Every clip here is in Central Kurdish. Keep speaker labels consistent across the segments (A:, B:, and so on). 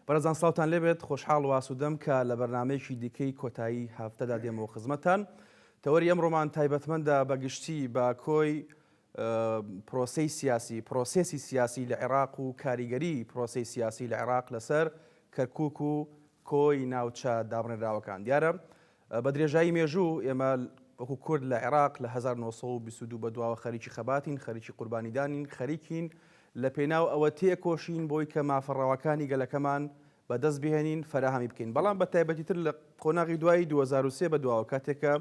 A: بەرەزان ساوتان لێبێت خۆشحاڵ واسوودەم کە لە بەرنمەیەکی دیکەی کۆتایی هافتەدا دێمەوە خزمەتان تەوەری ئەم ڕۆمان تایبەتمەندە بەگشتی بە کۆی پرۆسی سیاسی پرۆسسی سیاسی لە عێراق و کاریگەری پرۆسی سیاسی لە عێراق لەسەر کەرکک و کۆی ناوچە دابڕێنراوەکان دیارە بە درێژایی مێژوو ئێمە وەکو کورد لە عێراق لە هەزار و نۆ سەد و بیست و دوو بە دواوە خەریکی خەباتین، خەریکی قوربانیدانین، خەریکین لە پێناو ئەوە تێکۆشین بۆی کە مافە ڕەواکانی گەلەکەمان بە دەست بهێنین، فەراهەمی بکەین. بەڵام بە تایبەتی تر لە قۆناغی دوایی دوو هەزار و سێ بە دواوە کاتێک کە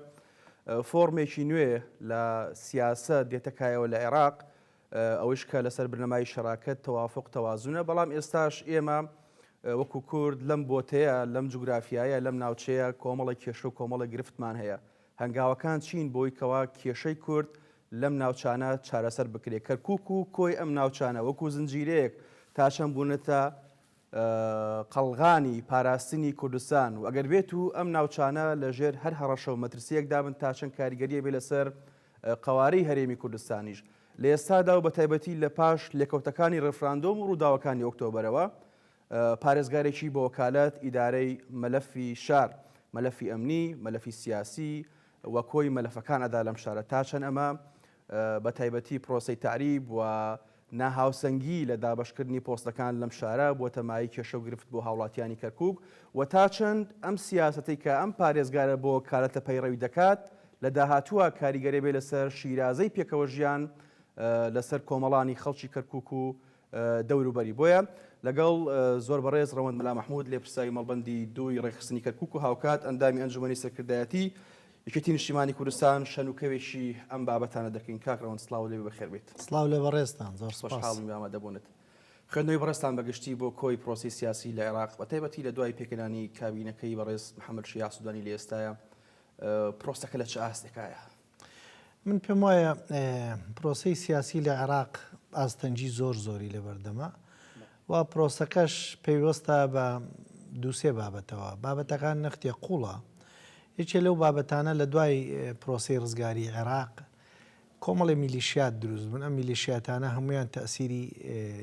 A: فۆڕمێکی نوێ لە سیاسەت دێتە کایەوە لە عێراق، ئەوەیش کە لەسەر بنەمای شەراکەت، تەوافوق، تەوازونە، بەڵام ئێستاش ئێمە وەکو کورد لەم بۆتەیە، لەم جوگرافیایە، لەم ناوچەیە کۆمەڵێک کێشە و کۆمەڵێک گرفتمان هەیە. هەنگاوەکان چین بۆی کەوا کێشەی کورد لەم ناوچانە چارەسەر بکرێ؟ کەرکوک و کۆی ئەم ناوچانە وەکو زنجیرەیەک تا چەند بوونەتە قەڵغانی پاراستنی کوردستان و ئەگەر بێت و ئەم ناوچانە لە ژێر هەر هەڕەشە و مەترسییەکدا بن تا چەند کاریگەریی بێ لەسەر قەوارەی هەرێمی کوردستانیش لە ئێستادا و بەتایبەتی لە پاش لێکەوتەکانی ڕێفراندۆم و ڕووداوەکانی ئۆکتۆبەرەوە پارێزگارێکی بە وەکالەت ئیدارەی مەلەفی شار مەلەفی ئەمنی مەلەفی سیاسی و کۆی مەلەفەکان ئەدا لەم شارە تا چەند ئەمە بە تایبەتی پرۆسەی تەعریب و ناهاوسەنگی لە دابەشکردنی پۆستەکان لەم شارە بووەتە مایەی کێشە و گرفت بۆ هاوڵاتیانی کەرکووک و تا چەند ئەم سیاسەتەی کە ئەم پارێزگارە بۆ کارلتە پەیڕەوی دەکات لە داهاتووە کاریگەرەبێت لەسەر شیرازەی پێکەوەژیان لەسەر کۆمەڵانی خەڵکی کەرکووک و دەوروبەری بۆیە لەگەڵ زۆر بەڕێز ڕەوەند مەلا مەحمود لێپرسراوی مەڵبەندی دووی ڕێکخستنی کەرکوک و هاوکات ئەندامی ئەنجومەنی سەرکردایەتی یەکێتی نیشتیمانی کوردستان شەن و کەوێکی ئەم بابەتانە دەکەین کاک ڕەوەند سڵاو لێبێ بەخێر بێیت. سڵاو لە بەڕێزتان
B: زۆر سوپاس. خۆشحاڵین بە ئامادەبوونت.
A: خوێندنەوەی بەڕێزتان بە گشتی بۆ کۆی پرۆسەی سیاسی لە عێراق بە تایبەتی لە دوای پێکهێنانی کابینەکەی بەڕێز محەمەد شیاع سودانی لە ئێستایە پرۆسەکە لە چ ئاستێکایە؟ من
B: پێم وایە پرۆسەی سیاسی لە عێراق ئاستەنگی زۆر زۆری لەبەردەمە و پرۆسەکەش پەیوەستە بە دووسێ بابەتەوە بابەتەکان نەختێ قوڵە یەکێ لەو بابەتانە لە دوای پرۆسی ڕزگاری عێراق کۆمەڵی میلیشیات دروست بوون ئەم میلیشیاتانە هەمویان تەسیری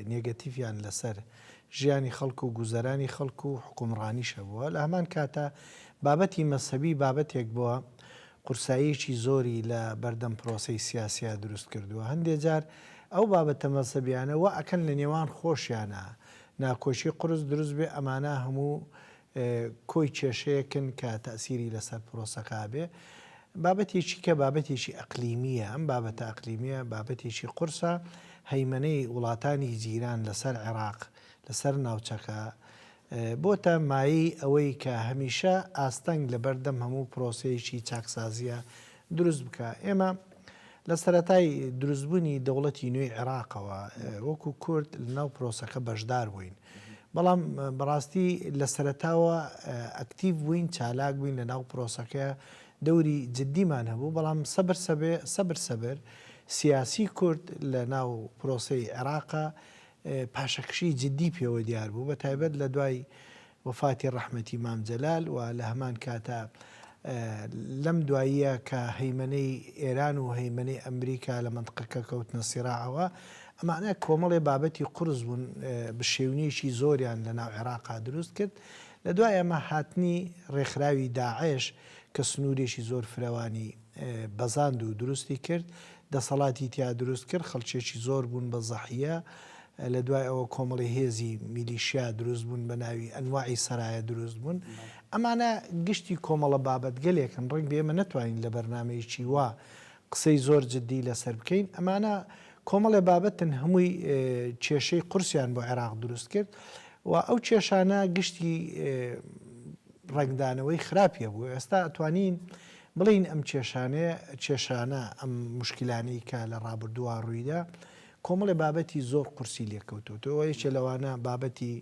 B: نێگەتیفیان لەسەر ژیانی خەڵکو و گوزەرانی خەڵکو و حکومڕانیشە بووە لە هەمان کاتە بابەتی مەسەبی بابەتێک بووە قورساییەکی زۆری لە بەردەم پرۆسەی سیاسیا دروست کردووە، هەندێ جار ئەو بابەتە مەزهەبیانە وا ئەکەن لە نێوان خۆشیانا ناکۆکی قورس دروست بێ، ئەمانە هەموو کۆی کێشەیەکن کە تەئسیری لەسەر پرۆسەکە ئەبێ. بابەتێکی کە بابەتێکی ئەقلیمییە، ئەم بابەتە ئەقلیمییە بابەتێکی قورسە، هەیمەنەی وڵاتانی جیران لەسەر عێراق، لەسەر ناوچەکە، بۆتە مایەی ئەوەی کە هەمیشە ئاستەنگ لەبەردەم هەموو پرۆسەیەکی چاکسازییە دروست بکا. ئێمە لە سەرەتای دروستبوونی دەوڵەتی نوێی عێراقەوە وەکوو کورد لەناو پرۆسەکە بەشدار بووین. بەڵام بەڕاستی لە سەرەتاوە ئەکتیڤ بووین، چالاک بووین لەناو پرۆسەکە، دەوری جددیمان هەبوو، بەڵام سەبر سەبر سەبر سیاسی کورد لەناو پرۆسەی عێراقە پاشەکشیی جددی پێوە دیار بوو، بە تایبەت لە دوای وەفاتی ڕەحمەتی مام جەلال و لە هەمان کاتا لەم دواییە کە هەیمەنەی ئێران و هەیمەنەی ئەمریکا لە مەنتقەکە کەوتنە سیراعەوە، ئەمانە کۆمەڵێ بابەتی قورس بوون بشێوینێکی زۆریان لە ناو عێراقا دروست کرد، لە دوای ئەمە هاتنی ڕێکخراوی داعش کە سنوورێکی زۆر فرەوانی. بەزاند و دروستی کرد دەسەڵاتی تیا دروست کرد خەڵکێکی زۆر بوون بە زەحیە لە دوای ئەوە کۆمەڵی هێزی میلیشیا دروست بوون بە ناوی ئەنواعی سەرایە دروست بوون ئەمانە گشتی کۆمەڵە بابەتگەلێکن ڕنگ بێمە نەتوانین لە بەرنمەیەکی وا قسەی زۆر جددی لەسەر بکەین ئەمانە کۆمەڵێ بابەتن هەمووی کێشەی قورسیان بۆ عێراق دروست کرد و ئەو کێشانە گشتی ڕنگدانەوەی خراپیە بوو ئێستا ئەتوانین بڵێین ئەم کێشانەیە، کێشانە، ئەم موشکیلانەی کە لە ڕابردووە ڕوویدا، کۆمەڵێ بابەتی زۆر قورسی لێ کەوتۆتەوە، یەکێ لەوانە بابەتی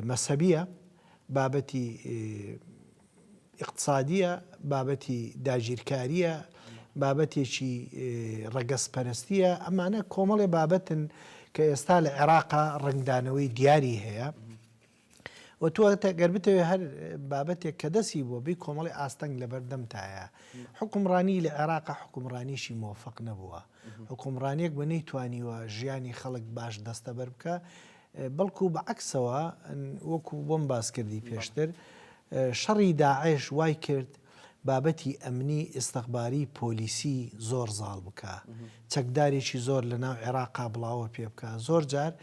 B: مەسەبییە، بابەتی ئیقتسادییە، بابەتی داگیرکارییە، بابەتێکی ڕەگەزپەرستییە، ئەمانە کۆمەڵێ بابەتن کە ئێستا لە عێراقا ڕەنگدانەوەی دیاری هەیە. و تۆ گەر بتەوێ هەر بابەتێک کە دەسی بۆ بی کۆمەڵی ئاستەنگ لەبەردەمتایە حکومڕانی لە عێراقا حکومڕانیشی مۆفق نەبووە حکومڕانیەک بە نەی توانیوە ژیانی خەڵک باش دەستە بەر بکە بەڵکو بە عکسەوە وەکو بۆم باس کردی پێشتر شەڕی داعش وای کرد بابەتی ئەمنی ئیستخباری پۆلیسی زۆر زاڵ بکا چەکدارێکی زۆر لە ناو عێراقا بڵاوە پێ بکا زۆر جار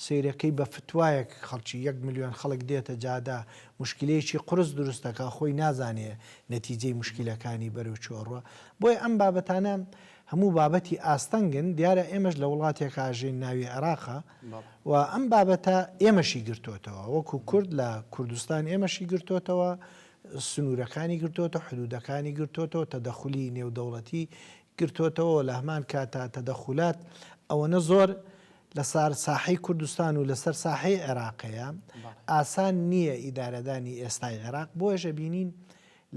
B: سەیرەکەی بە فتوایەک خەڵکی یەک ملیۆن خەڵک دێتە جادە مشکلەیەکی قورس دروستەکە خۆی نازانێ نەتیجەی مشکلەکانی بەرەو چۆڕوە بۆیە ئەم بابەتانە هەموو بابەتی ئاستەنگن دیارە ئێمەش لە وڵاتێک ئاژین ناوی عێراقا و ئەم بابەتە ئێمەشی گرتوتەوە وەکو کورد لە کوردستان ئێمەشی گرتوتەوە سنوورەکانی گرتۆتە، حدوودەکانی گرتۆتەوە، تەدەخولی نێودەوڵەتی گرتۆتەوە و لە هەمان کاتا تەدەخولات ئەوەنە زۆر لە سار ساحەی کوردستان و لەسەر ساحەی عێراقەیە ئاسان نییە ئیدارەدانی ئێستای عێراق بۆیەش ئەبینین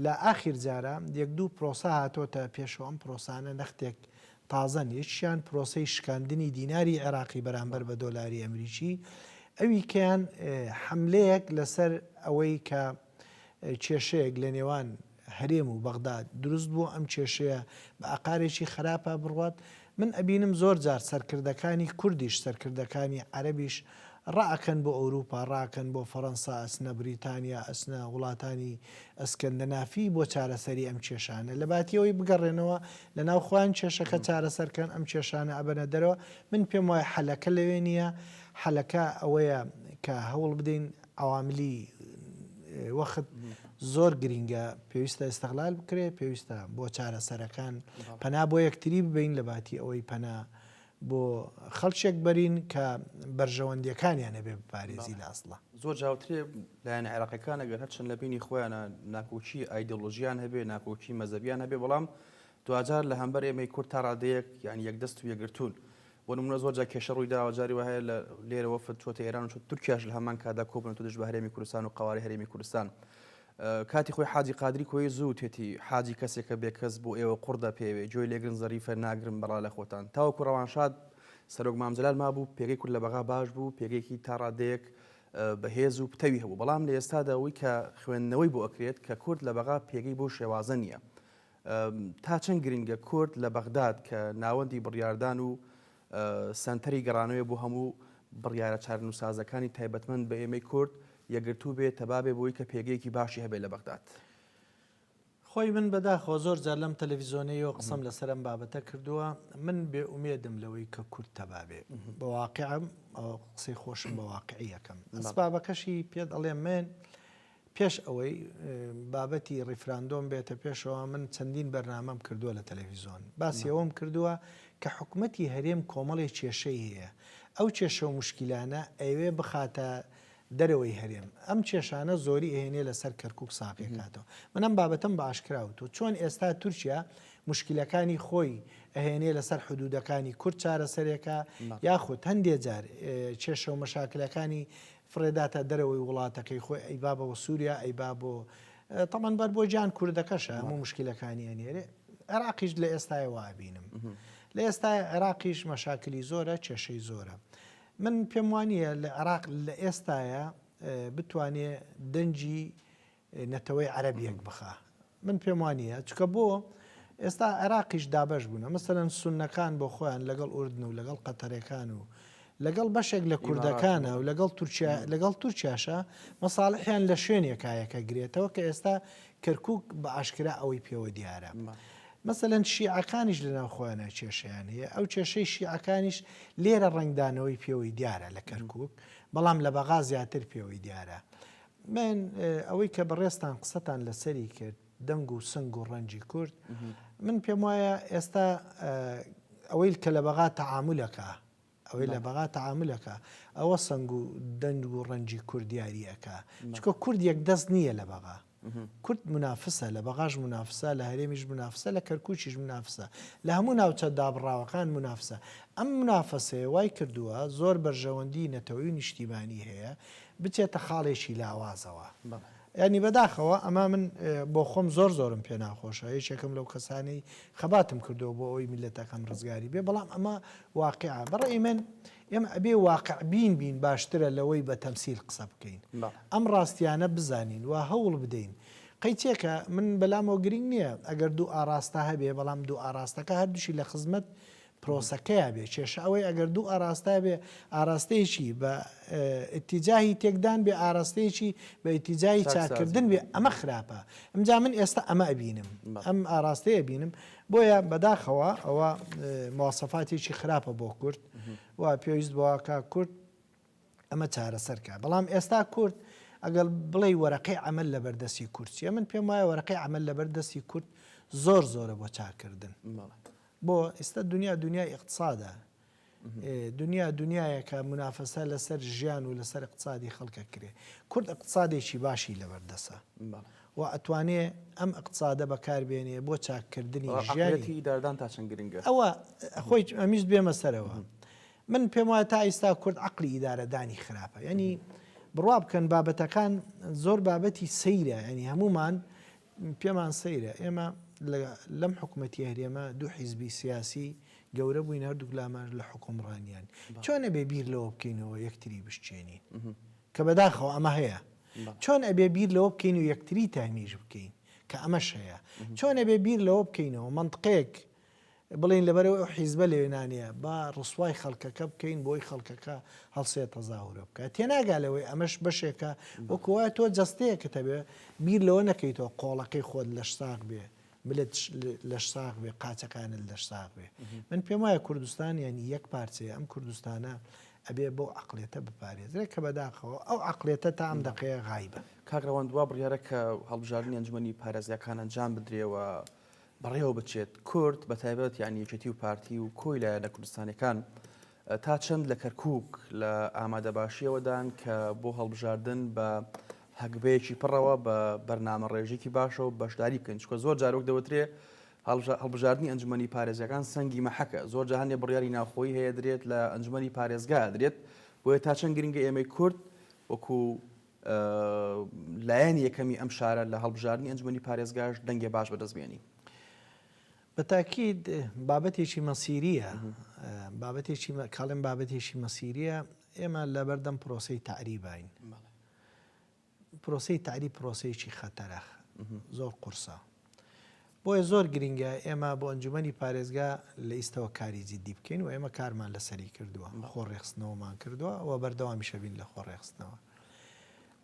B: لە ئاخیر جارە یەک دوو پرۆسە هاتۆتە پێشەوە ئەم پرۆسانە نەختێک تازەن، یەکیان پرۆسەی شکاندنی دیناری عێراقی بەرامبەر بە دۆلاری ئەمریکی، ئەویکەیان حەملەیەک لەسەر ئەوەی کە کێشەیەک لە نێوان هەرێم و بەغداد دروست بووە، ئەم کێشەیە بە ئاقارێکی خراپا بڕوات، من ئەبینم زۆر جار سەرکردەکانی کوردیش سەرکردەکانی عەرەبیش، ڕائەکەن بۆ ئەوروپا ڕائەکەن بۆ فەرەنسا ئەچنە بریتانیا ئەچنە وڵاتانی ئەسکەندەنافی بۆ چارەسەری ئەم کێشانە لەباتی ئەوەی بگەڕێنەوە لەناو خۆیان کێشەکە چارەسەرکەن ئەم کێشانە ئەبەنە دەرەوە من پێم وایە حەلەکە لەوێ نییە حەلەکە ئەوەیە کە هەوڵ بدەین عەواملی وەخت زۆر گرینگە پێویستە ئستغلال بکرێت پێویستە بۆ چارەسەرەکان پەنا بۆ یەکتری ببین لەباتی ئەوەی پەنا بۆ خەڵکێک بەرین کە بەرژەوەندیەکانیان هەبێ بپارێزی لە ئەسڵا. زۆر جاوترێ
A: لایەنە عێراقیەکان ئەگەر هەرچەند لە بینی خۆیانە ناکۆکی ئایدۆلۆژیان هەبێ ناکۆکی مەزەبیان هەبێ بەڵام دواجار لە هەمبەر ئێمەی کورد تا ڕادەیەک یعنی یەک دەست و یەگرتون بۆ نمونە زۆر جا کێشە ڕووی داوە جاری وهەیە لە لێرەوە فتوەتە ئێران و تورکیاش لە هەمان کادا کۆبنەوە دژ بە هەرێمی کوردستان و قەوارەی هەرێمی کوردستان کاتی خۆی حاجی قادری کۆیە زۆر وتێتی حاجی کەسێکە بێ کەس بۆ ئێوە قوڕ دەپێوێ گۆێی لێگرن زەریفە ناگرم بەڵا لە خۆتان تاوەکو ڕەوانشاد سەرۆک مام جەلال مابوو پێگەی کورد لە بەغا باش بوو پێگەیەکی تا ڕادەیەک بە هێز و پتەوی هەبوو بەڵام لە ئێستادا ئەوەی کە خوێندنەوەی بۆ ئەکرێت کە کورد لە بەغا پێگەی بەو شێوازە نییە تا چەند گرنگە کورد لە بەغداد کە ناوەندی بڕیاردان و سەنتەری گەڕانەوێ بۆ هەموو بڕیارە چارەنووسسازەکانی تایبەتمەند بە ئێمەی کورد یەکگرتوو بێ تەبا بێ بۆی کە پێگەیەکی باشی هەبێ لە بەغداد.
B: خۆی من بەداخەوە زۆر جار لەم تەلەفیزۆنەیەوە قسەم لەسەر ئەم بابەتە کردووە من بێ ئومێدم لەوەی کە کورد تەبا بێ بە واقعم قسەی خۆشم بە واقعی ئەکەم ئەسبابەکەشی پێت ئەڵێم من پێش ئەوەی بابەتی ڕیفراندۆم بێتە پێشەوە من چەندین بەرنامەم کردووە لە تەلەفیزۆن باسی ئەوەم کردووە کە حکومەتی هەرێم کۆمەڵی کێشەی هەیە ئەو کێشە و مشکیلانە ئەیەوێ بخاتە دەرەوەی هەرێم ئەم کێشانە زۆری ئەهێنێ لەسەر کەرکک ساقی کاتەوە منم بابەتم بە ئاشکراوت و چۆن ئێستا تورکیا مشکلەکانی خۆی ئەهێنێ لەسەر حدودەکانی کورد چارەسەرێکە یاخود هەندێ جار کێشە و مەشاکلەکانی فڕێداتە دەرەوەی وڵاتەکەی خۆی ئەی با بەوە سوریا ئەی با بۆ تەمان بەر بۆ جان کوردەکەشە هەموو مشکلەکانی ئەنێرێ عێراقیش لە ئێستای وابینم لە ئێستا عێراقیش مەشاکلی زۆرە کێشەی زۆرە من پێم وانە لە عێراق لە ئێستاە بتوانێ دەنجی نەتەوەی عەرەب یەک بخا من پێم وانیە چکە بۆ ئێستا عێراقیش دابەش بوونە مەسەن سونەکان بۆ خۆیان لەگەڵ ئوردن و لەگەڵ قەتەرەکان و لەگەڵ بەشێک لە کوردەکانە و لەگەڵ تورکیا لەگەڵ تورکیاشە مەساڵحیان لە شوێنێکایەکە گرێتەوە کە ئێستا کەرکک بە ئاشکرا ئەوەی پێوە دیارە. مەسەەن شیعەکانیش لە ناو خۆیانە کێشیان هەیە ئەو کێشەی شیعەکانیش لێرە ڕنگدانەوەی پێوەی دیارە لە کەرکک بەڵام لە بەغا زیاتر پێوەی دیارە. من ئەوەی کە بەڕێزتان قسەتان لەسەری کرد دەنگ و سنگ و ڕەنجی کورد من پێم وایە ئێستا ئەوەی کە لە بەغا تەعاملەکە ئەوەی لە بەغا تەعاملەکە ئەوە سنگ و دەنگ و ڕەنجی کوردیاریەکە چکە کورد یەک دەست نییە لە بەغا کورد منافسە لە بەغاش منافسە لە هەرێمیش منافسە لە کەرکوچیش منافسە لە هەموو ناوچە دابڕاوەکان منافسە ئەم منافەسەیە وای کردووە زۆر بەرژەوەندی نەتەوەی نیشتیمانی هەیە بچێتە خاڵێکی لاوازەوە بەڵێ. یانی بەداخەوە ئەمە من بۆخۆم زۆر زۆرم پێ ناخۆشە یەکێکم لەو کەسانەی خەباتم کردووە بۆ ئەوەی میللەتەکەم ڕزگاری بێ بەڵام ئەمە واقیعە بەڕەئی من ئێمە ئەبێ واقع بین بین باشترە لەوەی بە تەمسیل قسە بکەین بەڵێ. ئەم ڕاستیانە بزانین و هەوڵ بدەین قەی چێکە من بەلامەوە گرینگ نییە ئەگەر دوو ئاڕاستە هەبێ بەڵام دوو ئاڕاستەکە هەردووشی لە خزمەت پرۆسەکەیا بێ کێشە ئەوەی ئەگەر دوو ئاراستە بێ ئاراستەیەکی بە ئتیجاهی تێکدان بێ ئاراستەیەکی بە ئتیجاهی چاکردن بێ ئەمە خراپە ئەمجا من ئێستا ئەمە ئەبینم ئەم ئاراستەیە بینم بۆیە بەداخەوە ئەوە موواسەفاتێکی خراپە بۆ کورد و پێویست بۆکە کورد ئەمە چارەسەر کا بەڵام ئێستا کورد ئەگەڵ بڵێ وەرەقەی ئەمەل لەبەر دەستی کورد چیە من پێم وایە وەرەقەی ئەمەل لەبەر دەستی کورد زۆر زۆرە بۆ چاکردن بۆ ئێستا دنیا دنیای اقتصادە دنیا دنیایەکە منافەسە لەسەر ژیان و لەسەر اقتصادی خەڵکە کرێ کورد اقتصادێکی باشی لەبەردەسە و ئەتوانێ ئەم اقتصادە بەکاربێنێ بۆ چاککردنی ژیانی داردان تا چەند گرنگە
A: ئەوە خۆی
B: ئەمیز بێمە سەرەوە من پێم وایە تا ئیستا کورد عەقلی ئیدارە دانی خراپە یانی بڕوا بکەن بابەتەکان زۆر بابەتی سەیرە ینی هەمومان پێمان سەیرە ئێمە لەم حکوومەتی هەرێمە دوو حیزبی سیاسی گەورە بووین هەردوو لامەر لە حکومڕانیان چۆن ئەبێ بیر لەوە بکەینەوە یەکتری بشتێنین کە بەداخەوە ئەمە هەیە چۆن ئەبێ بیر لەوە بکەین و یەکتری تامیش بکەین کە ئەمەش هەیە چۆن ئەبێ بیر لەوە بکەینەوە منطقێک بڵێین لەبەرئەوەی ئەو حیزبە لەوێ نانێیە با ڕسوای خەڵکەکە بکەین بۆی خەڵکەکە هەڵسێ تەزاورە بکە تێناگا لەوەی ئەمەش بەشێکە وەکوە تۆ جەستەیەکە تەبێ بیر لەوە نەکەیتەوە قۆڵەکەی خۆت لەش ساغ بێ ملت لەش ساغ بێ قاچەکانت لەش ساغ بێ من پێم وایە کوردستان یعنی یەک پارچەیە ئەم کوردستانە ئەبێ بۆ عقلێتە بپارێزرێ کە بەداخەوە ئەو عقلێتە تا ئەم دقەیە غایبە کاکڕەوان دوا بڕیارە
A: کە هەڵبژاردننی ئەنجومی پارێزگاکان ئەنجام بدرێەوە بەڕێوە بچێت، کورد بە تایبەت یانی یەکێتی و پارتی و کۆی لایەنە کوردستانیەکان تا چەند لە کەرکوک لە ئامادە باشیەوەدان کە بۆ هەڵبژاردن بە هەگبەیەکی پڕەوە بە بەرنامە ڕێژێکی باشەوە بەشداری بکەین چکە زۆر جارۆک دەوترێ هەڵبژاردننی ئەنجومی پارێزەکان سەنگی مەحەکە زۆر جاهانێ بڕیاری ناوخۆی هەیە درێت لە ئەنجومی پارێزگا درێت بۆیە تا چەند گرنگە ئێمەی کورد وەکو لایەنی یەکەمی ئەم شارە لە هەڵبژاردنی ئەنجومەنی پارێزگاش دەنگێ باش بەدەست بێنی. بە تاکید
B: بابەتێکی مەسیریە بابەتێکی کاڵێن بابەتێکی مەسیریە ئێمە لەبەردەم پرۆسی تعریبین پرۆسی تعری پرۆسەیەکی خەتەرەخ زۆر قورسە. بۆیە زۆر گرینگە ئێمە بۆ ئەنجومەنی پارێزگا لە ئیستەوە کاری جیدی بکەین و ئێمە کارمان لەسەری کردووە خۆ ڕێخستنەوەمان کردووە و بەردەوامیشەبین لە خۆ ڕێخستنەوە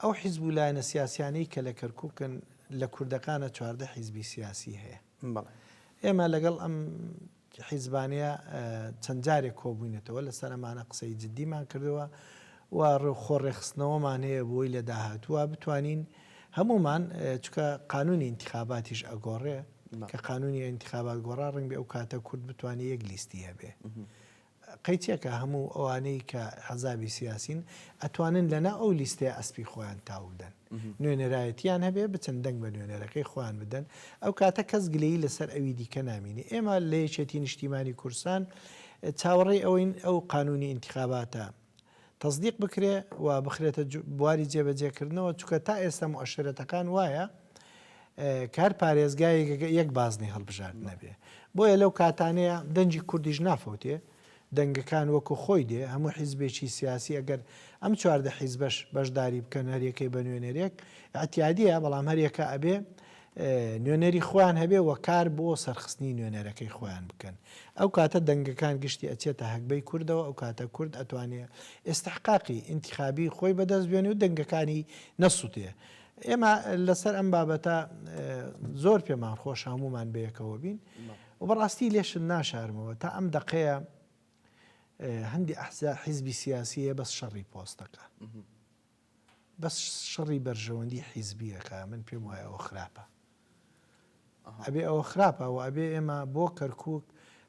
B: ئەو حیزب و لایەنە سیاسیانەی کە لە کەرککن لە کوردەکانە چواردە حیزبی سیاسی هەیە ئێمە لەگەڵ ئەم حیزبانەیە چەند جارێک کۆبووینەتەوە لەسەر ئەمانە قسەی جددیمان کردووە و ڕێوخۆ ڕێخستنەوەمان هەیە بۆی لە داهاتووە بتوانین هەمومان چکە قانونی انتخاباتیش ئەگۆڕێ کە قانونی انتخابات گۆڕا ڕنگ بێ ئەو کاتە کورد بتوانێت یەک لیستی هەبێ قەیچەکە هەموو ئەوانەی کە حزابی سیاسین ئەتوانن لەناو ئەو لیستەیە ئەسپی خۆیان تاو بدەن نوێنەرایەتیان هەبێ بچن دەنگ بە نوێنەرەکەی خۆیان بدەن ئەو کاتە کەس گلەیی لەسەر ئەوی دیکە نامینێ ئێمە لە یەکێتی نیشتیمانی کورسان چاوەڕێی ئەوەین ئەو قانونی ئینتخاباتە تەسدیق بکرێ و بخرێتە بواری جێبەجێکردنەوە چکە تا ئێستا و ئەشرەتەکان وایە کار پارێزگای یەک بازنی هەڵبژارد نەبێ بۆیە لەو کاتانەیە دەنجی کوردیش نافەوتێ دەنگەکان وەکو خۆی دێ هەموو حیزبێکی سیاسی ئەگەر ئەم چواردە حیزبەش بەشداری بکەن هەریەکەی بە نوێنەرێک ئەتیادیە بەڵام هەریەکە ئەبێ نوێنەری خۆیان هەبێ و کار بۆ سەرخستنی نوێنەرەکەی خۆیان بکەن ئەو کاتە دەنگەکان گشتی ئەچێتە هەگبەی کوردەوە ئەو کاتە کورد ئەتوانێ ئیستحقاقی ئینتیخابی خۆی بەدەست بێنێ و دەنگەکانی نەسوتێ ئێمە لەسەر ئەم بابەتە زۆر پێمان خۆش هەمومان بەیەکەوە بین و بەڕاستی لێشن ناشارمەوە تا ئەم دەقەیە هەندی ئەحزا حیزبی سیاسی هەیە بەس شەڕی پۆستەکە بەس شەڕی بەرژەوەندی حیزبیەکە من پێم وایە ئەوە خراپە ئەبێ ئەوە خراپە و ئەبێ ئێمە بۆ کەرکک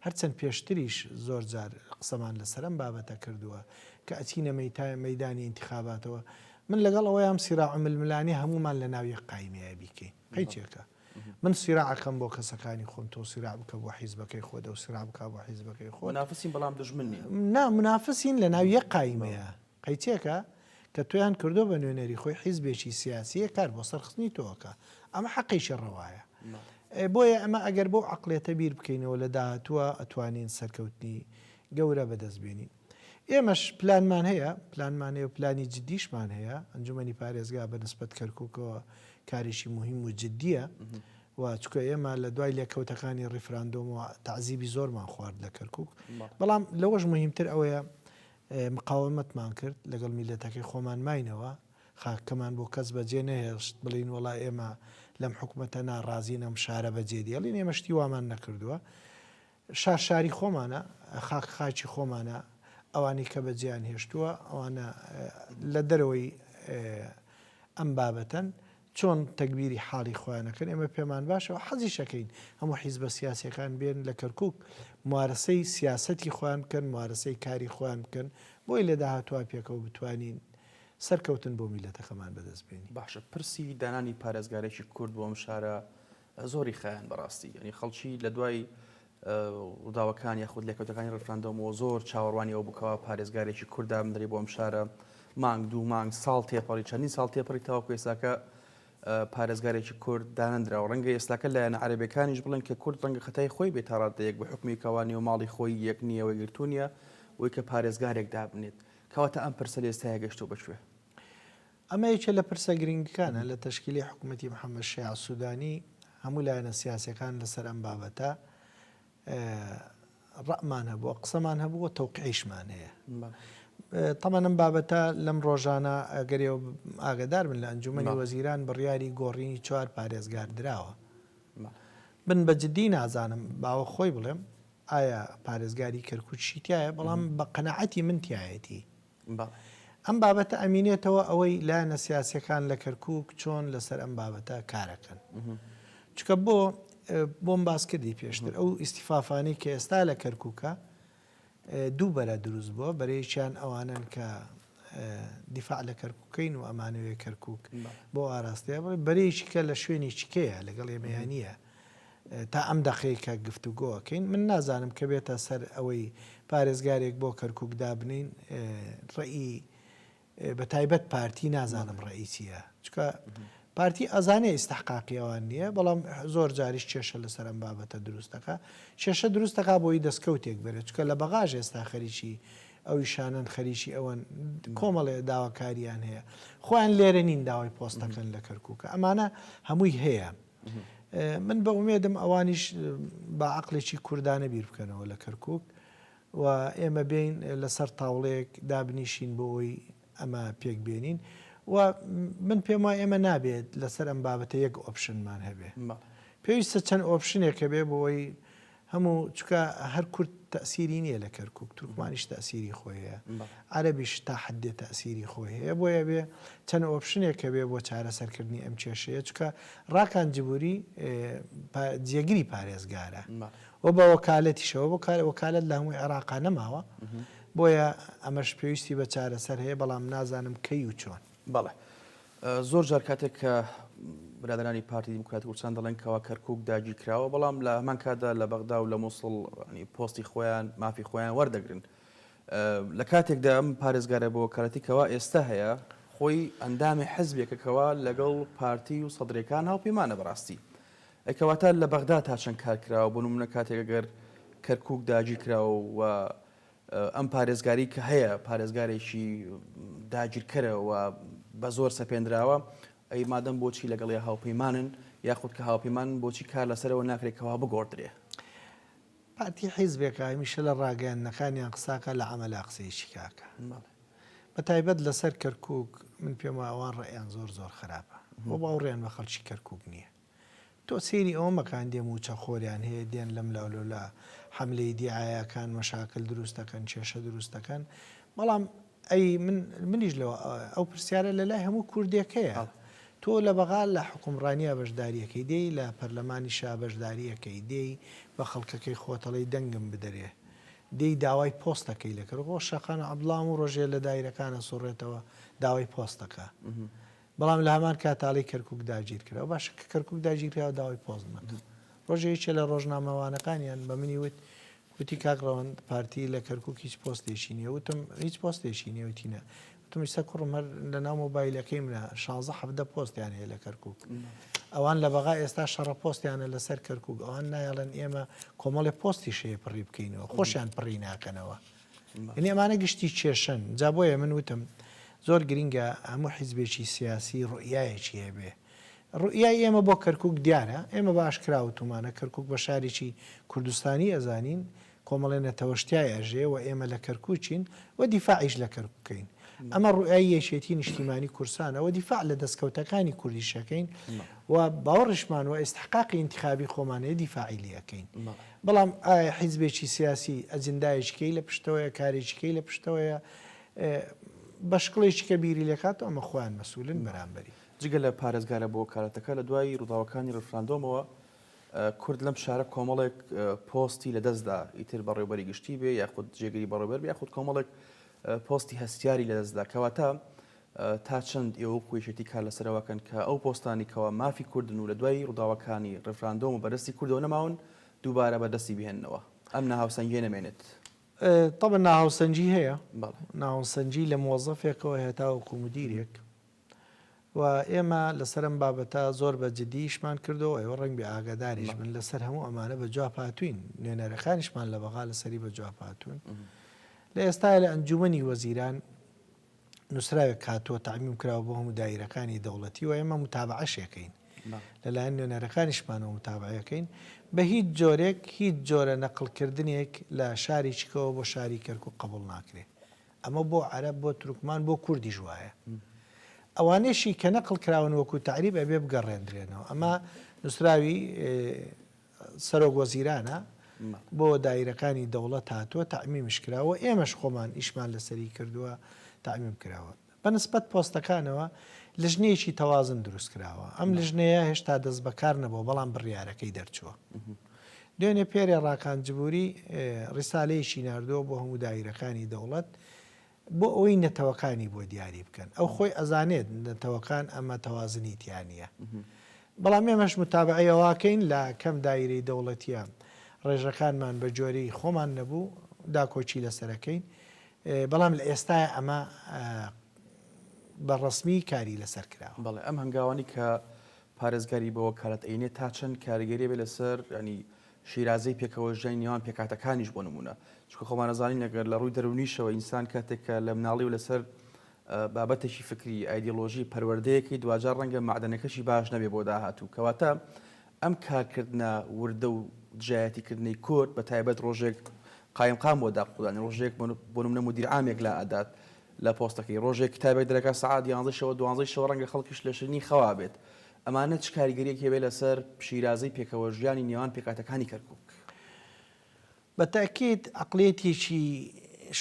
B: هەرچەند پێشتریش زۆر جار قسەمان لەسەرم بابەتە کردووە کە ئەچینە مەیتای مەدانی انتخاباتەوە من لەگەڵ ئەوەی ئەم سیرا ململانی هەمومان لە ناوی قایمەیە بیکەین قەیچێکە من سیراعەکەم بۆ کەسەکانی خۆم تۆ سیرا بکە بۆ حیزبەکەی خۆدە و سیرا بکە بۆ حیزبەکەی خۆ نافسین بەڵام دژمنی
A: نا منافسین
B: لە ناویە قایمەیە قەیچێکە کە تۆیان کردووە بە نوێنەری خۆی حیزبێکی سیاسیە کار بۆ سەرخستنی تۆ ئەکا ئەمە حەقێکی ڕەوایە بۆیە ئەمە ئەگەر بۆ عقلێتە بیر بکەینەوە لە داهاتووە ئەتوانین سەرکەوتنی گەورە بەدەست بێنین ئێمەش پلانمان هەیە پلانمان هەیە و پلانی جددیشمان هەیە ئەنجومەنی پارێزگا بە نسبەت کەرککەوە کارێکی مهم و جددیە و چکە ئێمە لە دوای لێکەوتەکانی ڕیفراندۆم و تعزیبی زۆرمان خوارد لە کەرکک بەڵام لەوەش مهمتر ئەوەیە مقاوەمەتمان کرد، لەگەڵ میللەتەکەی خۆمان ماینەوە، خاکەکەمان بۆ کەس بەجێ نەهێشت، بڵێین وەڵا ئێمە لەم حکومەتە ناڕازین ئەم شارە بەجێ دێڵین، ئێمە شتی وامان نەکردووە، شار شاری خۆمانە، خاک خاکی خۆمانە، ئەوانەی کە بەجێیان هێشتووە ئەوانە لە دەرەوەی ئەم بابەتەن، چۆن تەگبیری حاڵی خۆیان ئەکەن ئێمە پێمان باشە و حەزیش ئەکەین هەموو حیزبە سیاسیەکان بێن لە کەرکوک موارەسەی سیاسەتی خۆیان بکەن موارەسەی کاری خۆیان بکەن بۆی لە داهاتوا پێکەوە بتوانین سەرکەوتن بۆ میلەتەکەمان بەدەست بێنی. باشە پرسی دانانی
A: پارێزگارێکی کورد بۆ ئەم شارە زۆری خایاند بەڕاستی یەنی خەڵکی لە دوای ڕووداوەکان یاخود لێکەوتەکانی ڕفراندۆمەوە زۆر چاوەڕوانی ئەوە بکەوە پارێزگارێکی کورد دامدرێ بۆ ئەم شارە مانگ دوو مانگ ساڵ تێپەڕی چەندین ساڵ تێپەڕی تاوەکو ئێستاکە پارێزگارێکی کورد دانەندراوە ڕەنگە ئێستاکە لایەنە عەرەبەکانیش بڵێن کە کورد ڕەنگە خەتای خۆی بێت تا ڕادەیەک بە حکومی کەوانی و ماڵی خۆی یەک نییە وەی گرتو نیە وەی کە پارێزگارێک دابنێت کەواتە ئەم پرسە لە ئێستاە گەشتۆ بەکوێ ئەمە
B: یەکێ لە پرسە گرینگەکانە لە تەشکیلی حکومەتی محەمەد شیاع سودانی، هەموو لایەنە سیاسیەکان لەسەر ئەم بابەتە ڕەئمان هەبووە قسەمان هەبووە تەوقعیشمان هەیە. تەمان ئەم بابەتە لەم ڕۆژانە ئەگەری ئاگدار بن لە ئەنجومی وەزیران بڕیاری گۆڕینی چوار پارێزگار دراوە. بن بە جددی نازانم باوە خۆی بڵێم ئایا پارێزگاری کەرکوچی تایە بەڵام بە قەنەعەتی من تایەتی. بە ئەم بابەتە ئەمینێتەوە ئەوەی لایەنە سیاسیەکان لە کەرکوک چۆن لەسەر ئەم بابەتە کارەکەن چکە بۆ بۆم باس کردی پێشتر ئەو ئیسیفافانی کە ئێستا لە کەرکوکە دوو بەرە دروست بووە بەرەیەکیان ئەوانن کە دیفاع لە کەرککەین و ئەمانەوێ کەرکک بۆ ئاراستەیە بڵێ بەرەیەکی کە لە شوێنی چکەیە لەگەڵ ئێمەیانە تا ئەم دەقەی کە گفتوگۆ ئەکەین من نازانم کە بێتە سەر ئەوەی پارێزگارێک بۆ کەرکوک دابنێین ڕێی بە تایبەت پارتی نازانم ڕێی چییە چکە پارتی ئەزانێ ئیسستحقاقی ئەوان نییە بەڵام زۆر جاریش کێشە لەسەر ئەم بابەتە دروستەکە کێشە دروستەکە بۆی دەستکەوتێک بێت چکە لە بەغاژ ئێستا خەریکی ئەوی شانن خەریکی ئەوەن کۆمەڵێ داواکاریان هەیە خۆیان لێرە نین داوای پۆستەکەن لە کەرکووکە ئەمانە هەمووی هەیە من بە ئومێدم ئەوانیش بە عەقڵێکی کوردانە بیر بکەنەوە لە کەرکوک و ئێمە بین لەسەر تاوڵەیەک دابنیشین بۆ ئەوی ئەمە پێک بێنین و من پێم وای ئێمە نابێت لەسەر ئەم بابەتە یەک ئۆپشنمان هەبێ پێویستە چەند ئۆپشنێک هەبێ بۆ ئەوی هەموو چکە هەر کورد تەسیری نییە لە کەرکک تورکمانیش تەسیری خۆی هەیە عەربیش تا حدێ تەسیری خۆی هەیە بۆ یەێ چەند ئۆپشنێکەوێ بۆ چارەسەرکردنی ئەم کێشەیە چکە ڕاکان جبووری جێگری پارێزگارە و بە وەکالەتیشەوە بۆ کار وەکالت لە هەمووی عێراقا نەماوە بۆیە ئەمەش پێویستی بە چارەسەر هەیە بەڵام نازانم کەی و چۆن بەڵێ
A: زۆر جار کاتێک کە برادرانی پارتی دیموکراتی کوردستان دەڵێن کەوا کەرکک داگی کراوە بەڵام لە هەمان کاتدا لە بەغدا و لە مووسڵ پۆستی خۆیان مافی خۆیان وەردەگرن لە کاتێکدا ئەم پارێزگارە بۆ کارەتی کەوا ئێستا هەیە خۆی ئەندامی حزبێکە کەوا لەگەڵ پارتی و سەدرێکان هاوپەیمانە بەڕاستی ئەکەواتە لە بەغدا تا چەند کارکراوە بۆ نمونە کاتێکگەر کەرکک داگی کراوە و ئەم پارێزگاری کە هەیە پارێزگارێکی داگیرکەرە و بە زۆر سەپێندراوە، ئەی مادەم بۆچی لەگەڵیا هاوپەیمانن، یاخود کە هاوپەیمانن بۆچی کار لەسەرەوە ناکرێت کەوا بگۆڕدرێ؟
B: پارتی حیزبێکە هەمیشە لە ڕاگەیاندنەکانیا قساکا لە عەمەلا قسەیەکی کاکە. بە تایبەت لەسەر کەرکوک من پێم وایە ئەوان ڕەئیان زۆر زۆر خراپە و باوڕیان بە خەڵکی کەرکوک نیە. تۆ سەیری ئەوە مەکان دێ مووچە خۆریان هەیە دێن لەم لاو لەولا حەملەی دیعایەکان مەشاکل دروست دەکەن کێشە دروست دەکەن بەڵام ئەی من منیش لەوە ئەو پرسیارە لە لای هەموو کوردێکەیە تۆ لە بەغا لە حکومڕانیە بەشداریەکەی دێی لە پەرلەمانی شا بەشداریەکەی دێی بە خەڵکەکەی خۆتەڵی دەنگم بدەرێ دێی داوای پۆستەکەی لەکرد خۆ شەقان عبدڵام و ڕۆژێ لە دایرەکانە سوڕێتەوە داوای پۆستەکە بەڵام لە هەمان کاتاڵی کەرکوک داگیر کرا و باشە کە کەرکوک داگیر کرا و داوای پۆستمان کرد ڕۆژێ یەکێ لە ڕۆژنامەوانەکانیان بە منی وت وتی کاک ڕەوەند پارتی لە کەرکوک هیچ پۆستێکی نیە وتم هیچ پۆستێکی نیە وتی نا وتم ئیستا کوڕم هەر لە ناو مۆبایلەکەی منە شانزە حەفدە پۆستیان هەیە لە کەرکوک ئەوان لە بەغا ئێستا شەڕە پۆستیانە لەسەر کەرکوک ئەوان نایڵێن ئێمە کۆمەڵی پۆستی شەیە پڕی بکەینەوە خۆشیان پڕی ناکەنەوە یەعنی ئەمانە گشتی کێشەن جا بۆیە من وتم زۆر گرینگە هەموو حیزبێکی سیاسی روئیایەکی هەبێ روئیای ئێمە بۆ کەرکوک دیارە ئێمە بە ئاشکرا وتومانە کەرکوک بە شارێکی کوردستانی ئەزانین کۆمەڵی نەتەوەش تیای ئەژێ و ئێمە لە کەرکوکین و دیفاعیش لە کەرکوکەین ئەمە روئای یەکێتی نیشتیمانی کورسانە و دیفاع لە دەستکەوتەکانی کوردیشەکەین و باوەڕشمان و ئێستحقاقی انتخابی خۆمانەیە دیفاعیلیەکەین بەڵام ئایا حیزبێکی سیاسی ئەجندایەکی کەی لە پشتەوەیە کارێکی کەی لە پشتەوەیە بە شکڵێکی کە بیری لێکاتەوە ئەمە خۆیان مەسولن بەرامبەری. جگە لە پارێزگارە
A: بۆ وەکالەتەکە لە دوای ڕووداوەکانی ڕیفراندۆمەوە کورد لەم شارە کۆمەڵێک پۆستی لە دەستدا ئیتر بەڕێوبەری گشتی بێ یاخود جێگری بەڕێوبەر بێ یاخود کۆمەڵێک پۆستی هەستیاری لە دەستدا کەواتە تا چەند ئێوە وەکو یەکێتی کار لەسەر ئەوە ئەکەن کە ئەو پۆستانەی کەوا مافی کوردن و لە دوای ڕووداوەکانی ڕیفراندۆم و بەردەستی کوردەوە نەماون دووبارە بەردەستی بهێننەوە ئەم ناهاوسەنگیە نەمێنێت؟ تەبەن
B: ناهاوسەنگی هەیە، ناهاوسەنگی لە مۆزەفێکەوە هەتاوەکو مدیرێک و ئێمە لەسەر ئەم بابەتە زۆر بە جدی ئیشمان کردەوە ئێوە ڕەنگ بێ ئاگاداریش بن لەسەر هەموو ئەمانە بە جواب هاتوین نوێنەرەکانیشمان لە بەغا لەسەری بە جواب هاتوون لە ئێستا لە ئەنجومنی وەزیران نوسراوێک هاتووە تەعمیم کراوە بۆ هەموو دایرەکانی دەوڵەتی و ئێمە متابعەشی ئەکەین لەلایەن نوێنەرەکانیشمانەوە متابعەی ئەکەین بە هیچ جۆرێک هیچ جۆرە نەقڵکردنێک لە شاریکەوە بۆ شاری کەرکوک قبوڵ ناکرێ ئەمە بۆ عەرەب بۆ تورکمان بۆ کوردیش وایە ئەوانێشی کە نەقڵ کراون وەکو تەعریب ئەبێ بگەڕێندرێنەوە ئەمە نووسراوی سەرۆک وەزیرانە بۆ دایرەکانی دەوڵەت هاتووە تەعمیمش کراوە ئێمەش خۆمان ئیشمان لەسەری کردووە تەعمیم کراوە بە نسبەت پۆستەکانەوە لژنەیەکی تەوازن دروست کراوە ئەم لژنەیە هێشتا دەست بەکار نەبووە بەڵام بڕیارەکەی دەرچووە دوێنێ پێرێ ڕاکان جبووری ڕیسالەیەکی نردووە بۆ هەموو دایرەکانی دەوڵەت بۆ ئەوەی نەتەوەکانی بۆ دیاری بکەن ئەو خۆی ئەزانێت نەتەوەکان ئەمە تەوازنی تیانە بەڵام ئێمەش متابعی ئەواکەین لە کەم دایرەی دەوڵەتیە ڕێژەکانمان بە جۆرەی خۆمان نەبوو داکۆکی لەسەرەکەین بەڵام لە ئێستای ئەمە بە ڕسمی کاری لەسەر کرا بەڵێ ئەم هەنگاوانی کە
A: پارێزگاری بەوە کارەت ئەینێ تا چەند کاریگەری بێ لەسەر ینی شیرازەی پێکەوەژیانی نێوان پێکهاتەکانیش بۆ نموونە، چونکە خۆمان ئەزانین ئەگەر لە ڕووی دەروونیشەوە ئینسان کاتێک کە لە مناڵی و لەسەر بابەتێکی فکری، ئایدیۆلۆژی، پەروەردەیەکەی دواجار ڕەنگە مەعدەنەکەشی باش نەبێ بۆ داهاتوو، کەواتە ئەم کارکردنە وردە و دژایەتیکردنەی کورد بە تایبەت ڕۆژێک قایمقام بۆ داق خودانی، ڕۆژێک بۆ نموونە مودیر عامێک لا ئەدات لە پۆستەکەی، ڕۆژێک کتابێک دەرەکات سەعات یانزەی شەوە دوانزەی شەوە ڕەنگە خەڵکیش لە شرنی خەوا بێت ئەمانە چ کاریگەریەکی هەبێت لەسەر شیرازەی پێکەوەژیانی نێوان پێکهاتەکانی کەرکوک؟ بە تەئکید
B: عەقڵیەتێکی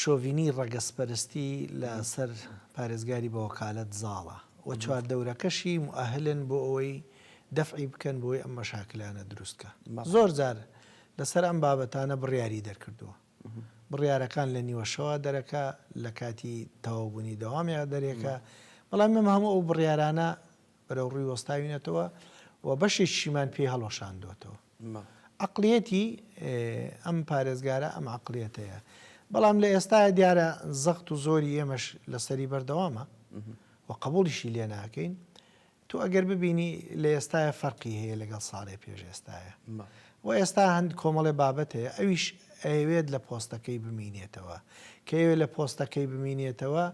B: شۆڤینی ڕەگەزپەرستی لە سەر پارێزگاری بە وەکالەت زاڵە و چواردەورەکەشی موئەهلن بۆ ئەوەی دەفعی بکەن بۆی ئەم مەشاکلانە دروست کا. زۆر جار لە سەر ئەم بابەتانە بڕیاری دەرکردووە. بڕیارەکان لە نیوە شەوا دەرەکا، لە کاتی تەواو بوونی دەوامیان دەرێکا. بەڵام ئێمە هەموو ئەو بڕیارانە بەرەو ڕووی وەستاوینەتەوە و بەشێکیشیمان پێی هەڵوەشاندووەتەوە. عەقڵیەتی ئەم پارێزگارە ئەم عەقڵیەتەیە. بەڵام لە ئێستایا دیارە زەخت و زۆری ئێمەش لەسەری بەردەوامە و قەبووڵیشی لێ ناکەین. تۆ ئەگەر ببینی لە ئێستایا فەرقی هەیە لەگەڵ ساڵێ پێش ئێستایا و ئێستا هەند کۆمەڵێ بابەت هەیە ئەویش ئەیەوێت لە پۆستەکەی بمینێتەوە. کە ئەوێ لە پۆستەکەی بمینێتەوە،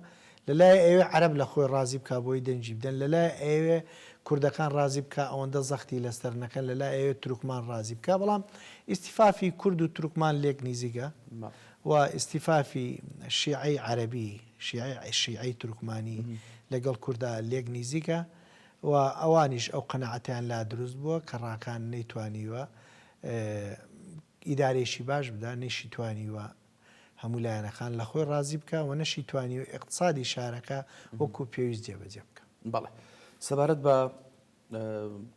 B: لەلایێ ئەیەوێ عەرەب لە خۆی ڕازی بکا بۆی دەنگی بدەن، لەلایێ ئەیەوێ کوردەکان ڕازی بکا ئەوەندە زەختی لەسەر نەکەن، لەلا ئەیەوێ تورکمان ڕازی بکا، بەڵام ئیستیفافی کورد و تورکمان لێک نیزیکە و ئیستیفافی شیعەی عەرەبی، شیعەی شیعەی تورکمانی لەگەڵ کوردا لێک نیزیکە و ئەوانیش ئەو قەناعەتەیان لا دروست بووە کە ڕاکان نەیتوانیوە ئیدارەیەکی باش بدا، نەیشیتوانیوە هەموو لایەنەکان لە خۆی ڕازی بکا و نەشی توانیوە ئیقتسادی شارەکە وەکوو پێویست جێبەجێ بکا. بەڵێ.
A: سەبارەت بە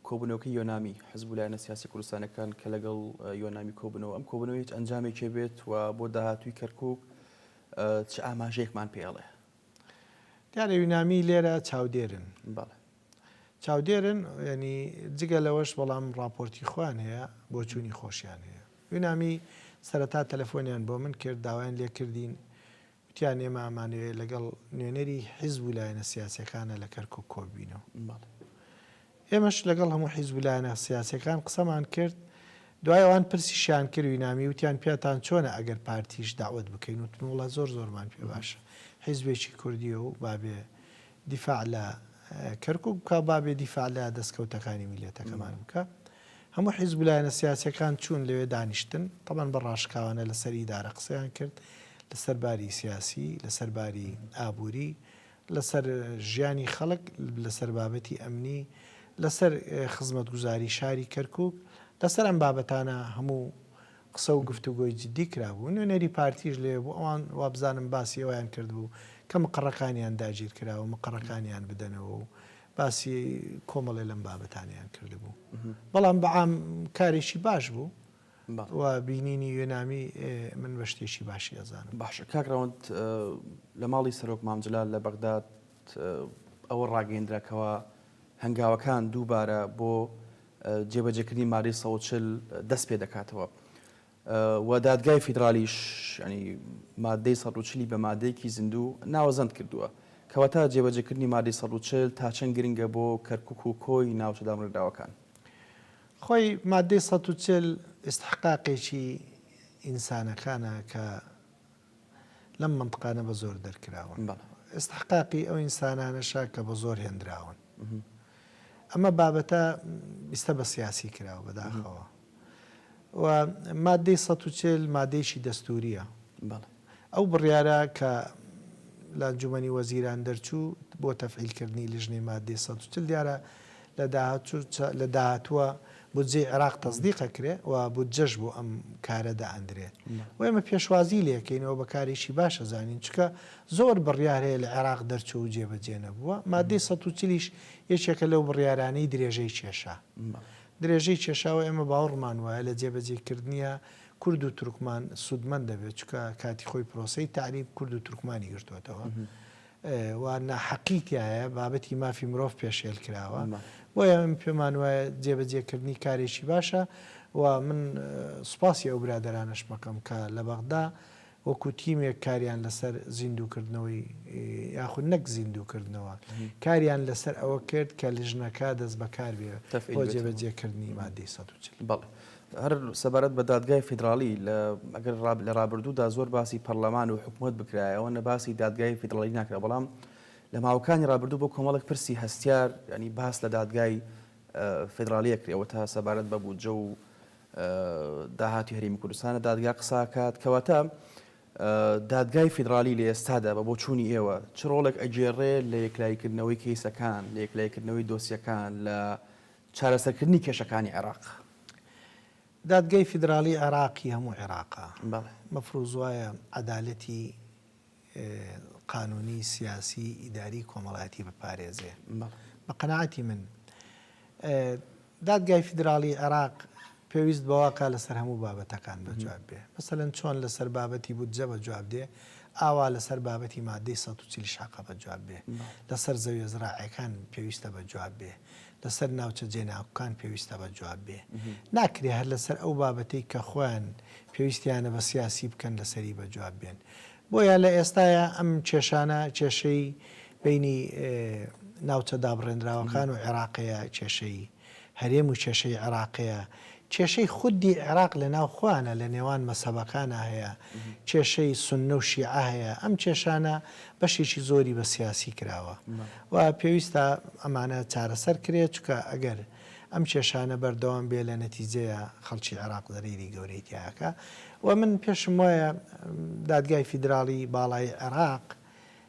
A: کۆبوونەوەکەی یۆنامی حزب و لایەنە سیاسی کوردستانەکان کە لەگەڵ یۆنامی کۆبوونەوە، ئەم کۆبوونەوە هیچ ئەنجامێکێ بێت و بۆ داهاتووی کەرکووک چ ئاماژەیەکمان پێ ئەڵێ؟
B: دیارە یۆنامی لێرە چاودێرن. بەڵێ.
A: چاودێرن
B: یانی جگە لەوەش بەڵام ڕاپۆرتی خۆیان هەیە بۆچوونی خۆشیان هەیە یونامی سەرەتا تەلەفۆنیان بۆ من کرد داوایان لێ کردین وتیان ئێمە ئامانەوێت لەگەڵ نوێنەری حیزب و لایەنە سیاسەکانە لە کەرکک کۆببینەوە ئێمەش لەگەڵ هەموو حیزب و لایەنە سیاسەکان قسەمان کرد دوای ئەوان پرسیشیان کردوی نامی وتیان پیاتان چۆنە ئەگەر پارتیش داوت بکەین وتموڵە زۆر زۆرمان پێ باشە حیزبێکی کوردیە و بابێ دیفاع لە کەرکوک بکە بابێ دیفاع لە دەستکەوتەکانی میلەتەکەمان بکە هەموو حیزب و لایەنە سیاسیەکان چوون لەوێ دانیشتن تەبەن بە ڕاشکاوانە لەسەر ئیدارە قسەیان کرد لەسەر باری سیاسی لەسەر باری ئابووری لەسەر ژیانی خەڵک لەسەر بابەتی ئەمنی لەسەر خزمەتگوزاری شاری کەرکوک لەسەر ئەم بابەتانە هەموو قسە و گفتوگۆی جدی کرابوو، نوێنەری پارتیش لەوێ بوو، ئەوان وابزانم باسی ئەوەیان کردبوو کە مقەڕەکانیان داگیرکراوە، مقەڕەکانیان بدەنەوە و باسی کۆمەڵێ لەم بابەتانەیان کردبوو. بەڵام بە عام کارێکی باش بوو و بینینی یۆنامی من بە شتێکی باشی ئەزانم. باشە کاک ڕەوەند،
A: لە ماڵی سەرۆک مام جەلال لە بەغداد ئەوە ڕاگەیەندرا کەوا هەنگاوەکان دووبارە بۆ جێبەجێکردنی مادەی سەد و چل دەست پێ دەکاتەوە و دادگای فیدرالیش ینی مادەی سەد و چلی بە مادەیەکی زیندوو ناوەزەند کردووە کەواتە جێبەجێکردنی مادەی سەد و چل تا چەند گرنگە بۆ کەرکوک و کۆی ناوچە دامرکراوەکان. خۆی
B: مادەی سەد و چل ئیستحقاقێکی ئینسانەکانە کە لەم مەنتقانە بە زۆر دەرکراون ئیستحقاقی ئەو ئینسانانەشە کە بە زۆر هێندراون ئەمە بابەتە بیستە بە سیاسی کراوە بەداخەوە و مادەی ١٤٠ مادەیەکی دەستوریە ئەو بڕیارە کە لە ئەنجومەنی وەزیران دەرچوو بۆ تەفعیلکردنی لیژنەی مادەی ١ۊ٠ دیارە لە داهاتووە بودجەی عێراق تەسدیق ئەکرێ و بودجەش بۆ ئەم کارە دائەندرێ و ئێمە پێشوازی لێکەین و بە کارێکی باش ئەزانین چونکە زۆر بڕیار هەیە لە عێراق دەرچوو و جێبەجێ نەبووە، ماددەی سەد و چل یش یەکێکە لەو بڕیارانەی درێژەی کێشا درێژەی کێشا و ئێمە باوەڕمان وایە لە جێبەجێ کردنیا کورد و تورکمان سوودمەند دەبێ چونکە کاتی خۆی پرۆسەی تەعریب کورد و تورکمانی گرتۆتەوە. و ناحەقی تیایە، بابەتی مافی مرۆڤ پێشێل کراوە، بۆیە من پێمان وایە جێبەجێکردنی کارێکی باشە و من سوپاسی ئەو برادەرانەشم ئەکەم کە لە بەغدا وەکو تیمێک کاریان لەسەر زیندووکردنەوەی یاخود نەک زیندووکردنەوە کاریان لەسەر ئەوە کرد کە لیژنەکە دەستبەکار بێت بۆ جێبەجێکردنی مادەی سەد و چل. هەر
A: سەبارەت بە دادگای فیدراڵی، لە ئەگەر ڕاب لە ڕابردوودا زۆر باسی پەڕلەمان و حکومەت بکرایە، ئەوەنە باسی دادگای فیدڕاڵی ناکرا، بەڵام لە ماوەکانی ڕابردوو بۆ کۆمەڵێک پرسی هەستیار یانی باس لە دادگای فیدڕاڵی ئەکرێ، ئەوەتا سەبارەت بە بودجە و داهاتی هەرێمی کوردستانە دادگا قسە ئەکات، کەواتە دادگای فیدڕالی لە ئێستادا بە بۆچوونی ئێوە چ ڕۆڵێک ئەگێڕێ لە یەکلاییکردنەوەی کەیسەکان، لە یەکلاییکردنەوەی دۆسیەکان لە چارەسەرکردنی کێشەکانی عێراق.
B: دادگای فیدراڵی عێراقی هەموو عێراقە. بەڵێ. مەفروز وایە عەدالەتی قانونی، سیاسی، ئیداری، کۆمەڵایەتی بپارێزێ. بەڵێ. بە قەناعەتی من دادگای فیدراڵی عێراق پێویست بەواکا لەسەر هەموو بابەتەکان بەجواب بێ. مەسەلەن چۆن لەسەر بابەتی بودجە بەجواب دێ، ئاوا لەسەر بابەتی ماددەی سەد و چل شاقە بەجواب بێ. بەڵێ. لەسەر زەویە زراعیەکان پێویستە بەجواب بێ. لەسەر ناوچە جێناکوکان پێویستە بە جواب بێ ناکرێ هەر لەسەر ئەو بابەتەی کە خۆیان پێویستیانە بە سیاسی بکەن لەسەری بە جواب بێن بۆیە لە ئێستایا ئەم کێشانە کێشەی بینی ناوچە دابڕێنراوەکان و عێراقەیە کێشەی هەرێم و کێشەی عێراقەیە کێشەی خودی عێراق لە ناو خۆیانە لە نێوان مەزهەبەکانا هەیە، کێشەی سوننە و شیعە هەیە، ئەم کێشانە بەشێکی زۆری بە سیاسی کراوە و پێویستە ئەمانە چارەسەر کرێت، چونکە ئەگەر ئەم کێشانە بەردەوام بێت لە نەتیجەیە خەڵکی عێراق زەرەیری گەورەی تیا ئەکا و من پێشم وایە دادگای فیدراڵی باڵای عێراق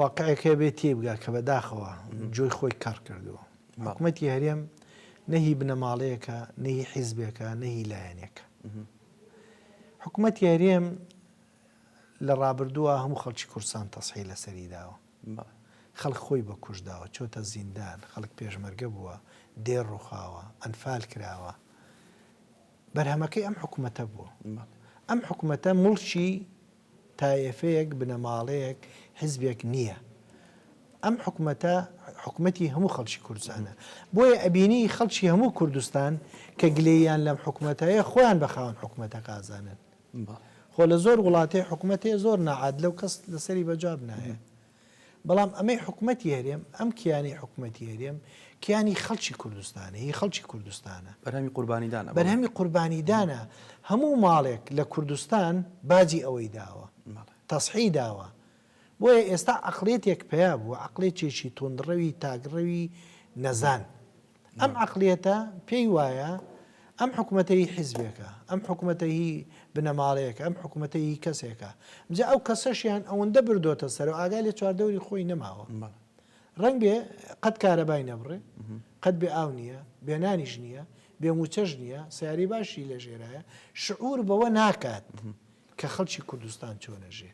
B: واقعێک هەیە بێ تێیبگا کە بەداخەوە جۆی خۆی کەڕ کردووە. حکومەتی هەرێم نە هی بنەماڵەیەکە، نە هی حیزبێکە، نە هی لایەنێکە. حکومەتی هەرێم لە ڕابردووە هەموو خەڵکی کوردستان تەسحی لەسەری داوە. خەڵک خۆی بە کوژ داوە، چۆتە زیندان، خەڵک پێشمەرگە بووە، دێر ڕووخاوە، ئەنفال کراوە. بەرهەمەکەی ئەم حکومەتە بووە. ئەم حکومەتە موڵکی تایەفەیەک، بنەماڵەیەک، حزبێک نییە. ئەم حکومەتە حکومەتی هەموو خەڵکی کوردستانە. بۆیە ئەبینی خەڵکی هەموو کوردستان کە گلەییان لەم حکومەتە هەیە خۆیان بە خاوەن حکومەتەکە ئازانن. خۆ لە زۆر وڵاتێ حکومەت هەیە زۆر ناعادلە و کەس لەسەری بەجا بنایە. بەڵام ئەمەی حکومەتی هەرێم، ئەم کیانی حکومەتی هەرێم، کیانی خەڵکی کوردستانە، هی خەڵکی کوردستانە. بەرهەمی قوربانیدانە.
A: بەرهەمی قوربانیدانە.
B: هەموو ماڵێک لە کوردستان باجی ئەوەی داوە. تەسحی داوە. بۆیە ئێستا عەقڵیەتێک پەیا بووە، عەقڵێتێکی توندڕەوی تاکڕەوی نەزان. ئەم عەقلیەتە پێی وایە ئەم حکوومەتە هی حیزبێکە، ئەم حکوومەتە هی بنەماڵەیەکە، ئەم حکوومەتە هی کەسێکە. جا ئەو کەسەشیان ئەوەندە بردۆتە سەر و ئاگای لە چواردەوری خۆی نەماوە. ڕەنگ بێ قەت کارەبای نەبڕێ، قەت بێ ئاو نییە، بێ نانیش نییە، بێ مووچەش نییە، سەیارەی باشی لەژێرایە، شعوور بەوە ناکات کە خەڵکی کوردستان چۆن ئەژێ.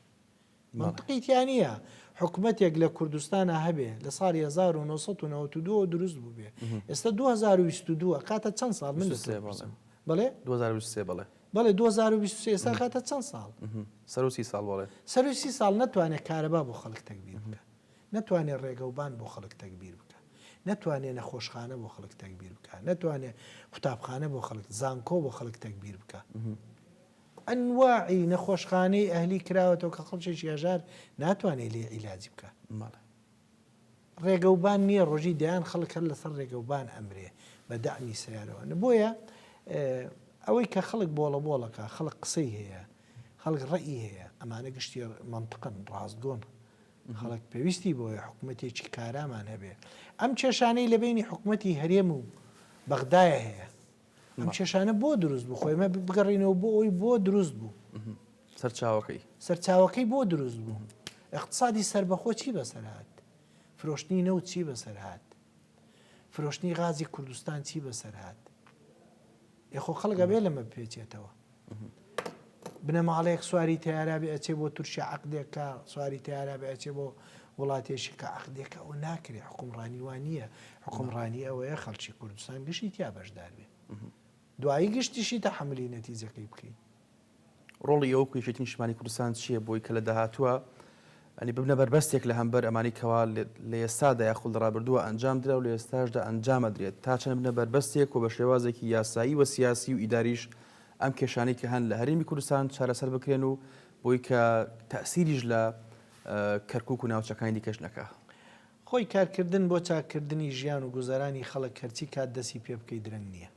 B: مەنتقی تیا نیە حکومەتێک لە کوردستانا هەبێ لە ساڵی 1992 دروست بووبێ ئێستا 2022 کاتە چەند ساڵ من بڵێ 2023 بڵێ
A: بڵێ
B: 2023 ئێستا کاتە چەند ساڵ سەرسی ساڵ
A: بڵێ سەرسی ساڵ ناتوانێت
B: کارەبا بۆ خەڵک تەکبیر بکە ناتوانێت ڕێگەوبان بۆ خەڵک تەکبیر بکە ناتوانێت نەخۆشخانە بۆ خەڵک تەکبیر بکە ناتوانێت قوتابخانە بۆ خەڵک زانکۆ بۆ خەڵک تەکبیر بکە ئەنواعی نەخۆشخانەی ئەهلی کراوەتەوە کە خەڵکێکی هەژار ناتوانێت لێ عیلاجی بکات. مەڵێ. ڕێگەوبان نییە ڕۆژی دەیان خەڵک هەر لەسەر ڕێگەوبان ئەمرێ بە دەعمی سەیارەوە. بۆیە ئەوەی کە خەڵک بۆڵە بۆڵەکە خەڵک قسەی هەیە خەڵک ڕەئی هەیە ئەمانە گشتی مەنتقن ڕاستگۆن. خەڵک پێویستی بۆیە حکوومەتێکی کارامان هەبێ ئەم کێشانەی لە بینی حکوومەتی هەرێم و بەغدایە هەیە. ئەم کێشانە بۆ دروست بوو خۆ ئێمە بگەڕینەوە بۆ ئەوی بۆ دروست بوو سەرچاوەکەی سەرچاوەکەی بۆ دروست بوو اقتصادی سربەخۆ چی بەسەرهات فرۆشتنی نەوت چی بەسەرهات فرۆشتنی غازی کوردستان چی بەسەرهات یخۆ خەڵگە بێ لەمە پێچێتەوە بنەماڵەیەک سواری تەیارابێ ئەچێ بۆ تورکیا عقدێکە سواری تەیارابێ ئەچێ بۆ وڵاتێکی کە عقدێکە ئەو ناکرێ حکومڕانی وان نییە حکومڕانی ئەوەیە خەڵکی کوردستان گشتی تیا بەشدار بێ دوایی گشتیشی تا حملی نەتیجەکەی بکەین ڕۆڵی
A: ئەو کوێشێتی نیشمانی کوردستان چییە بۆی کە لە داهاتووە یانی ببنە بەربەستێک لە هەمبەر ئەمانەی کەوا لە ئێستادا یاخود لە ڕابردووە ئەنجام درا و لە ئێستاشدا ئەنجام ئەدرێت، تا چەند ببنە بەربەستێک و بە شێوازێکی یاسایی و سیاسی و ئیداریش ئەم کێشانەی کە هەن لە هەرێمی کوردستان چارەسەر بکرێن و بۆی کە تەئسیریش لە کەرکوک و ناوچەکانی دیکەش نەکا. خۆی
B: کارکردن بۆ چاککردنی ژیان و گوزەرانی خەڵک هەرچی کات دەسی پێ بکەی درەنگ نیە.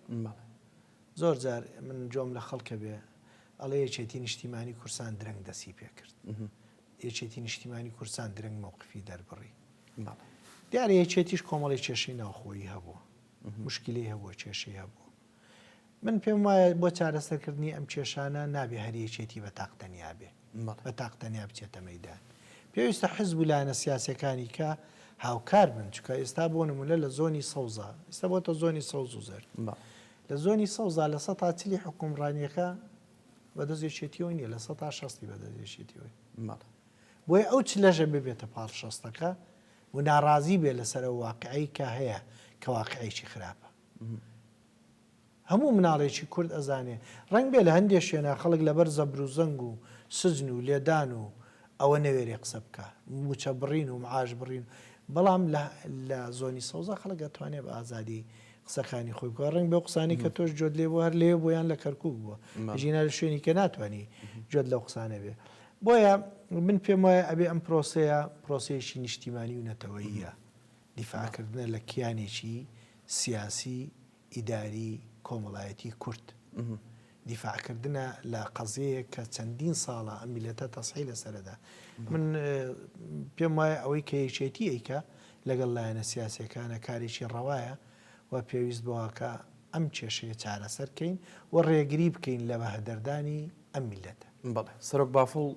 B: زۆر جار من گۆم لە خەڵکە بێ ئەڵێ یەکێتی نیشتیمانی کورسان درەنگ دەسی پێ کرد. یەکێتی نیشتیمانی کوردستان درەنگ مەوقفی دەربڕی. بەڵێ. دیارە یەکێتیش کۆمەڵی کێشەی ناوخۆیی هەبوو. مشکلی هەبووە کێشەی هەبوو. من پێم وایە بۆ چارەسەرکردنی ئەم کێشانە نابێ هەر یەکێتی بە تاق تەنیا بێ. بە تاق تەنیا بچێتە مەیدان. پێویستە حزب و لایەنە سیاسیەکانی کە هاوکار بن، چونکە ئێستا بۆ نموونە لە زۆنی سەوزا، ئێستا بۆتە زۆنی سەوز و زەرد. لە زۆنی سەوزا لە سەتا چلی حوکمڕانیەکە بە دەست یەکێتیەوەی نیە لە سەتا شەستی بە دەست یەکێتیەوەی مەڵێ بۆیە ئەو چ لەژە ببێتە پاڵ شەستەکە و ناڕازی بێ لەسەر ئەو واقعی کە هەیە کە واقعێکی خراپە هەموو مناڵێکی کورد ئەزانێ ڕنگ بێ لە هەندێ شوێنە خەڵک لەبەر زەبر و زەنگ و سجن و لێدان و ئەوە نەوێرێ قسە بکە موچە بڕین و معاش بڕین بەڵام لە زۆنی سەوزە خەڵک ئەتوانێ بە ئازادی قسەکانی خۆی بکا ڕەنگ بەو قسانی کە تۆش جۆت لێ بوو هەر لێ بۆیان لە کەرکک بووە ژینا لە شوێنی کە ناتوانانی جۆت لەو قسانە بێ بۆیە من پێم وایە ئەبێ ئەم پرۆسەیە پرۆسەیەکی نیشتیمانی و نەتەوەیە دیفاکردنە لە کیانێکی سیاسی ئیداری کۆمەڵایەتی کورد. دیفاع کردنە لە قەزیەیەک کە چەندین ساڵە ئەم میلەتە تەسحی لەسەرەدا من پێم وایە ئەوەی کە یەکێتی ئەیکە لەگەڵ لایەنە سیاسەکانە کارێکی ڕەوایە و پێویست بەوەکە ئەم کێشەیە چارەسەر کەین و ڕێگری بکەین لە بەهەدەردانی ئەم میلەتە بەڵێ سەرۆک بافڵ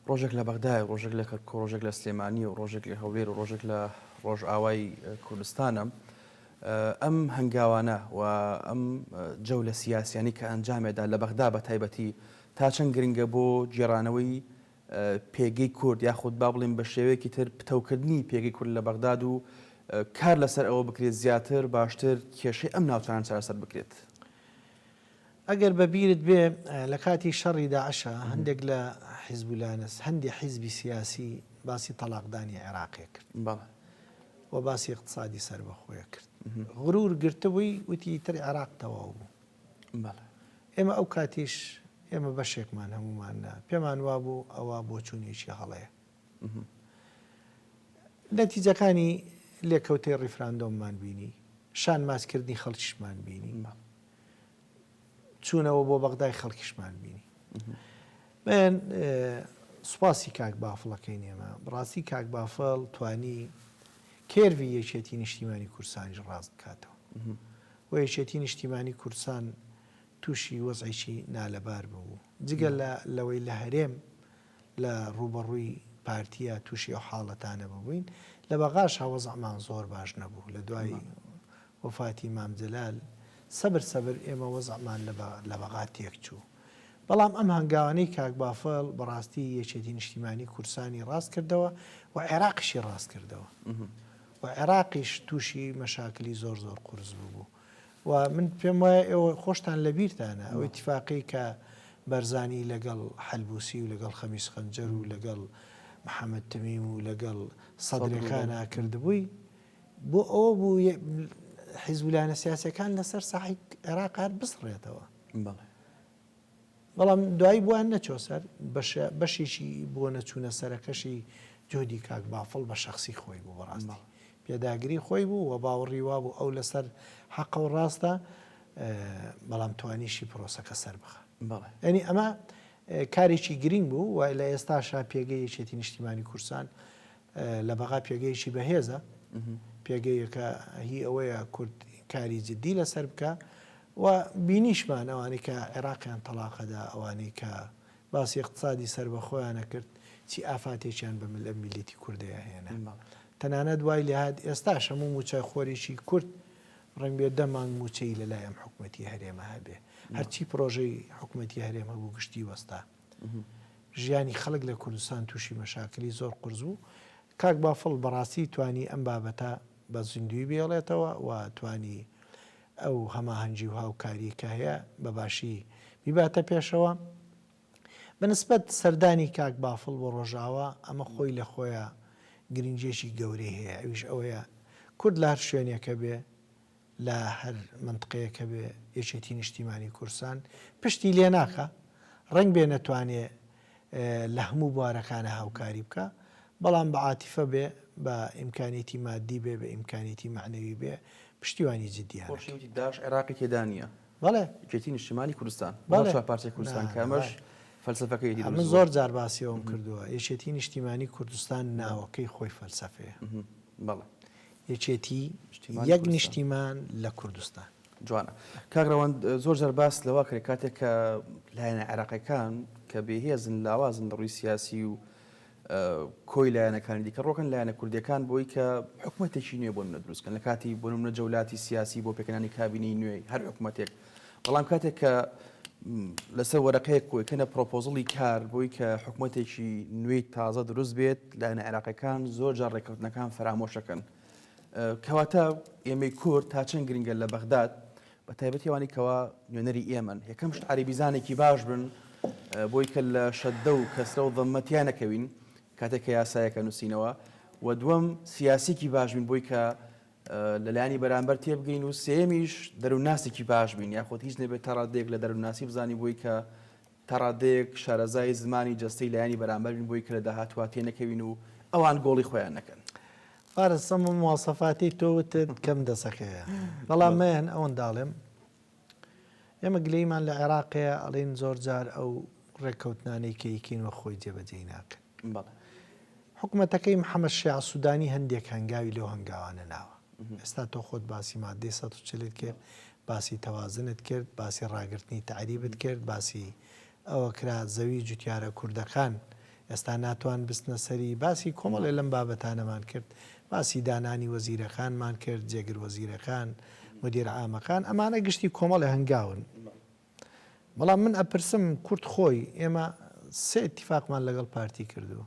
A: ڕۆژێک لە بەغدای ڕۆژێک لە کەرکۆ ڕۆژێک لە سلێمانی و ڕۆژێک لە هەولێر و ڕۆژێک لە ڕۆژئاوای کوردستانە ئەم هەنگاوانە و ئەم جەولە سیاسیانەی کە ئەنجامێدا لە بەغدا بە تایبەتی تا چەند گرنگە بۆ گێڕانەوەی پێگەی کورد یاخود با بڵێین بە شێوەیەکی تر پتەوکردنی پێگەی کورد لە بەغداد و کار لەسەر ئەوە بکرێت زیاتر باشتر کێشەی ئەم ناوچانە چارەسەر بکرێت؟
B: ئەگەر بە بیرت بێ لە کاتی شەڕی داعشا هەندێک لە حیزبولانەس هەندێ حیزبی سیاسی باسی تەڵاقدانی عێراقێ کرد. بەڵێ. و باسی ئیقتسادی سەربەخۆیە کرد. غرور گرتبووی وتی ئیتر عێراق تەواو بوو. بەڵێ. ئێمە ئەو کاتیش ئێمە بەشێکمان هەموومان پێمان وابوو ئەوە بۆچوونێکی هەڵەیە. نەتیجەکانی لێکەوتەی ڕیفراندۆممان بینی، شانمازکردنی خەڵکیشمان بینی، چوونەوە بۆ بەغدای خەڵکیشمان بینی. من سوپاسی کاک بافڵەکەی نێمە بڕاستی کاک بافڵ توانی کێرڤی یەکێتی نیشتیمانی کورسانیش ڕاست بکاتەوە و یەکێتی نیشتیمانی کورسان تووشی وەزعێکی نالەبار ببوو جگە لە لەوەی لە هەرێم لە ڕووبەڕووی پارتیە توشی ئەو حاڵەتانە ببووین لە بەغاشا وەزعمان زۆر باش نەبوو لە دوای وەفاتی مام جەلال سەبر سەبر ئێمە وەزعمان لە بەغا تێک چوو بەڵام ئەم هەنگاوانەی کاک بافڵ بەڕاستی یەکێتی نیشتیمانی کوردسانی ڕاست کردەوە و عێراقیشی ڕاست کردەوە و عێراقیش توشی مەشاکلی زۆر زۆر قورس ببوو. و من پێم وایە ئێوە خۆشتان لە بیرتانە ئەو ئیتفاقی کە بەرزانی لەگەڵ حەلبوسی و لەگەڵ خەمیس خەنجەر و لەگەڵ محەممەد تەمیم و لەگەڵ سەدرەکانا کردبووی بۆ ئەوە بوو حیزبولایەنە سیاسەکان لەسەر ساحی عێراق هەر بسڕێتەوە بەڵام دوایی بۆیان نەچوە سەر بەشە بەشێکی بۆ نەچونە سەرەکەشی جهدی کاک بافڵ بە شەخسی خۆی بوو بەڕاستی پێداگری خۆی بوو و باوەڕی وابوو ئەو لەسەر حەقە و ڕاستە بەڵام توانیشی پرۆسەکە سەربخا یانی ئەمە کارێکی گرینگ بوو و لە ئێستاشا پێگەی یەکێتی نیشتیمانی کوردستان لە بەغا پێگەیەکی بەهێزە، پێگەیەکە هی ئەوەیە کورد کاری جدی لەسەر بکا و بینیشمان ئەوانەی کە عێراقیان تەڵاقە دا، ئەوانەی کە باسی ئیقتسادی سەربەخۆیانە کرد چی ئافاتێکیان بە مل میللەتی کوردەیە هێنا. تەنانەت وای لێ هات ئێستاش هەموو مووچەخۆرێکی کورد ڕەنگ بێ دە مانگ مووچەی لە لای ئەم حکومەتی هەرێمە هەبێ. هەرچی پرۆژەی حکومەتی هەرێم هەبوو گشتی وەستا. ژیانی خەڵک لە کوردستان تووشی مەشاکلی زۆر قورس بوو کاک بافڵ بەڕاستی توانی ئەم بابەتە بە زیندووی بێڵێتەوە و توانی ئەو هەماهەنگی و هاوکاری کە هەیە بە باشی بیباتە پێشەوە بە نسبەت سەردانی کاک بافڵ بۆ ڕۆژاوا ئەمە خۆی لە خۆیە گرنگێکی گەورەی هەیە ئەویش ئەوەیە کورد لە هەر شوێنێکە بێ لە هەر مەنتقەیەک هەبێ یەکێتی نیشتیمانی کورسان پشتی لێ ناکا ڕەنگبێ نەتوانێ لە هەموو بوارەکانە هاوکاری بکا بەڵام بە عاتیفە بێ بە ئیمکانیەتی مادی بێ بە ئیمکانیەتی مەعنەوی بێ پشتیوانی جدیانە کە. خۆشی وتی داعش عێراقی
A: تێدا نییە. بەڵێ. یەکێتی
B: نیشتیمانی
A: کوردستان. بەڵێ. نەک چوار پارچەی کوردستان کە ئەمەش فەلسەفەکەی دروست بووە. ئەمن زۆر جار
B: باسی ئەوەم کردووە یەکێتی نیشتیمانی کوردستان ناوەکەی خۆی فەلسەفەیە. بەڵێ. یەکێتی یەک نیشتیمان لە کوردستان. جوانە
A: کاک رەوەند زۆر جار باس لەوە کرێ کاتێک کە لایەنە عێراقیەکان کە بێهێزن لاوازن لە ڕووی سیاسی و کۆی لایەنەکانی دیکە ڕۆکن لایەنە کوردەکان بۆی کە حکوومەتێکی نوێ بۆ منە دروستکەن لە کاتی بۆ منە جەولاتی سیاسی بۆ پێکەانی کابینەی نوێی هەر حکوومەتێک بەڵام کاتێک کە لەسەر وەرەقەیەک کۆیکەنە پرۆپۆزڵی کار بۆی کە حکوومەتێکی نوێی تازە دروست بێت لایەنە عێراقەکان زۆر جار ڕێککەوتنەکان فەرامۆشەکەن کەواتە ئێمەی کورد تا چەند گرنگە لە بەغداد بە تایبەتیوانی کەوا نوێنەری ئێمەن یەکەم شت عریبیزانێکی باش بن بۆی کە لە شەدە و کەسرە و ضمەتیان نەکەوین کاتێک کە یاسایەکە نووسینەوە و دووەم سیاسێکی باش بین بۆی کە لە لایەنی بەرامبەر تێبگەین و سێمیش دەروونناسێکی باش بین یاخود هیچ نەبێت تا ڕادەیەک لە دەروونناسی بزانین بۆی کە تا ڕادەیەک شارەزای زمانی جەستەی لایەنی بەرامبەرین بۆی کە لە داهاتوە تێنەکەوین و ئەوان گۆڵی خۆیان نەکەن. فارس ئەم
B: مواسەفاتەی تۆ وتت کەم دەسەکەیە بەڵام مەیەن ئەوەنداڵێم، ئێمە گلەیمان لە عێراقەیە ئەڵێن زۆر جار ئەو ڕێککەوتنانەی کە ئیکەین وە خۆی جێبەجێی ناکەن. بەڵێ. حکومەتەکەی محەمەد شیاع سودانی هەندێک هەنگاوی لەو هەنگاوانە ناوە. ئێستا تۆ خۆت باسی ماددەی سەد و چل ت کرد، باسی تەوازنت کرد، باسی ڕاگرتنی تەعریبت کرد، باسی ئەوە کرا زەوی جوتیارە کوردەکان ئێستا ناتوان بستنە سەری، باسی کۆمەڵێ لەم بابەتانەمان کرد، باسی دانانی وەزیرەکانمان کرد، جێگر وەزیرەکان، مدیر عامەکان، ئەمانە گشتی کۆمەڵێ هەنگاون، بەڵام من ئەپرسم کورد خۆی ئێمە سێ ئیتیفاقمان لەگەڵ پارتی کردووە،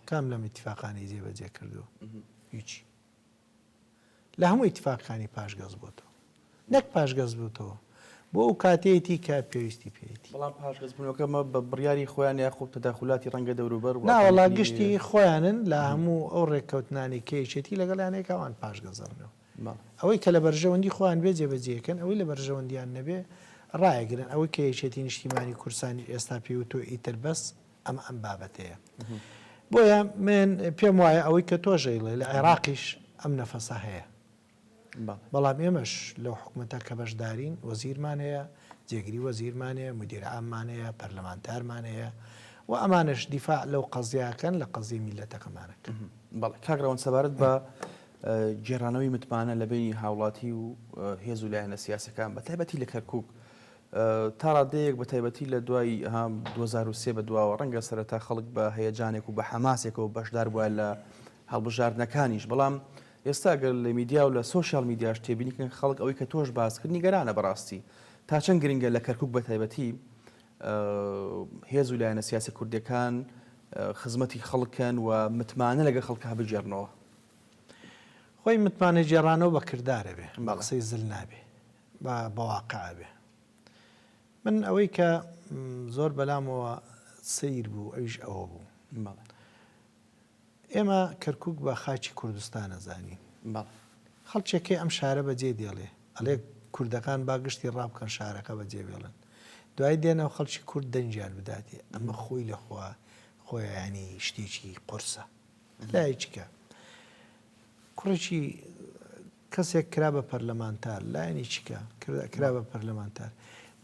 B: کام لەم ئیتیفاقانەی جێبەجێ کردووە؟ هیچی. لە هەموو ئیتفاقەکانی پاشگەز بۆتەوە نەک پاشگەز بووتەوە بۆ ئەو کاتێتی کە پێویستی پێیتی بەڵام پاشگەزبوونەکە
A: مە بە بڕیاری خۆیان یاخۆب تەداخولاتی ڕەنگە دەوروبەر و ناوەڵا گشتی
B: خۆیانن لە هەموو ئەو ڕێککەوتنانی کەیچێتی لەگەڵ یانەیە کاوان پاشگەزەرنەوە ئەوەی کە لە بەرژەوەندی خۆیان بێ جێبەجێکەن ئەوەی لە بەرژەوەندیان نەبێ ڕایگرن ئەوەی کە یەکێتی نیشتیمانی کورسانی ئێستا پێوتۆ ئیتر بەس ئەمە ئەم بابەتەیە. بۆیە من پێم وایە ئەوەی کە تۆش ئەیڵێ لە عێراقیش ئەم نەفەسە هەیە. بەڵام ئێمەش لەو حکومەتە کە بەشدارین وەزیرمان هەیە، جێگری وەزیرمان هەیە، مودیر عاممان هەیە، پەرلەمانتارمان هەیە و ئەمانەش دیفاع لەو قەزیە ئەکەن لە قەزیەی میللەتەکەمان ئەکەن. بەڵێ. کاک
A: ڕەوەند سەبارەت بە گێڕانەوەی متمانە لە بەینی هاوڵاتی و هێز و لایەنە سیاسیەکان بەتایبەتی لە کەرکووک تا ڕادەیەک بە تایبەتی لە دوای دوو هەزار و سێ بە دواوە، ڕەنگە سەرەتا خەڵک بە هەیەجانێک و بە حەماسێکەوە بەشدار بوایە لە هەڵبژاردنەکانیش، بەڵام ئێستا گەر لە میدیا و لە سۆشیال میدیاش تێبینی بکەن خەڵک ئەوەی کە تۆش باست کرد نیگەرانە بەڕاستی تا چەند گرنگە لە کەرکوک بە تایبەتی هێز و لایەنە سیاسیە کوردیەکان خزمەتی خەڵکن و متمانە لەگە خەڵکە بگێڕنەوە.
B: خۆی متمانە گێڕانەوە بە کردارە بێ بە قسەی زل نابێ با بەواقع بێ من ئەوەی کە زۆر بەلامەوە سەیر بوو ئەویش ئەوە بوو ئێمە کەرکک بە خاچی کوردستانە زانین خەڵچێکەکەی ئەم شارە بەجێ دێڵێ ئەلێ کوردەکان با گشتی ڕابکەن شارەکە بەجێ بێڵن دوای دێنەوە خەڵکی کورد دەنجیان بداتێ ئەمە خۆی لەخوا خۆیانی شتێکی قرسە لایچکە کوڕێکی کەسێک کرا بە پەرلەمانتار لایەنی چی کە کرا بە پەرلەمانتار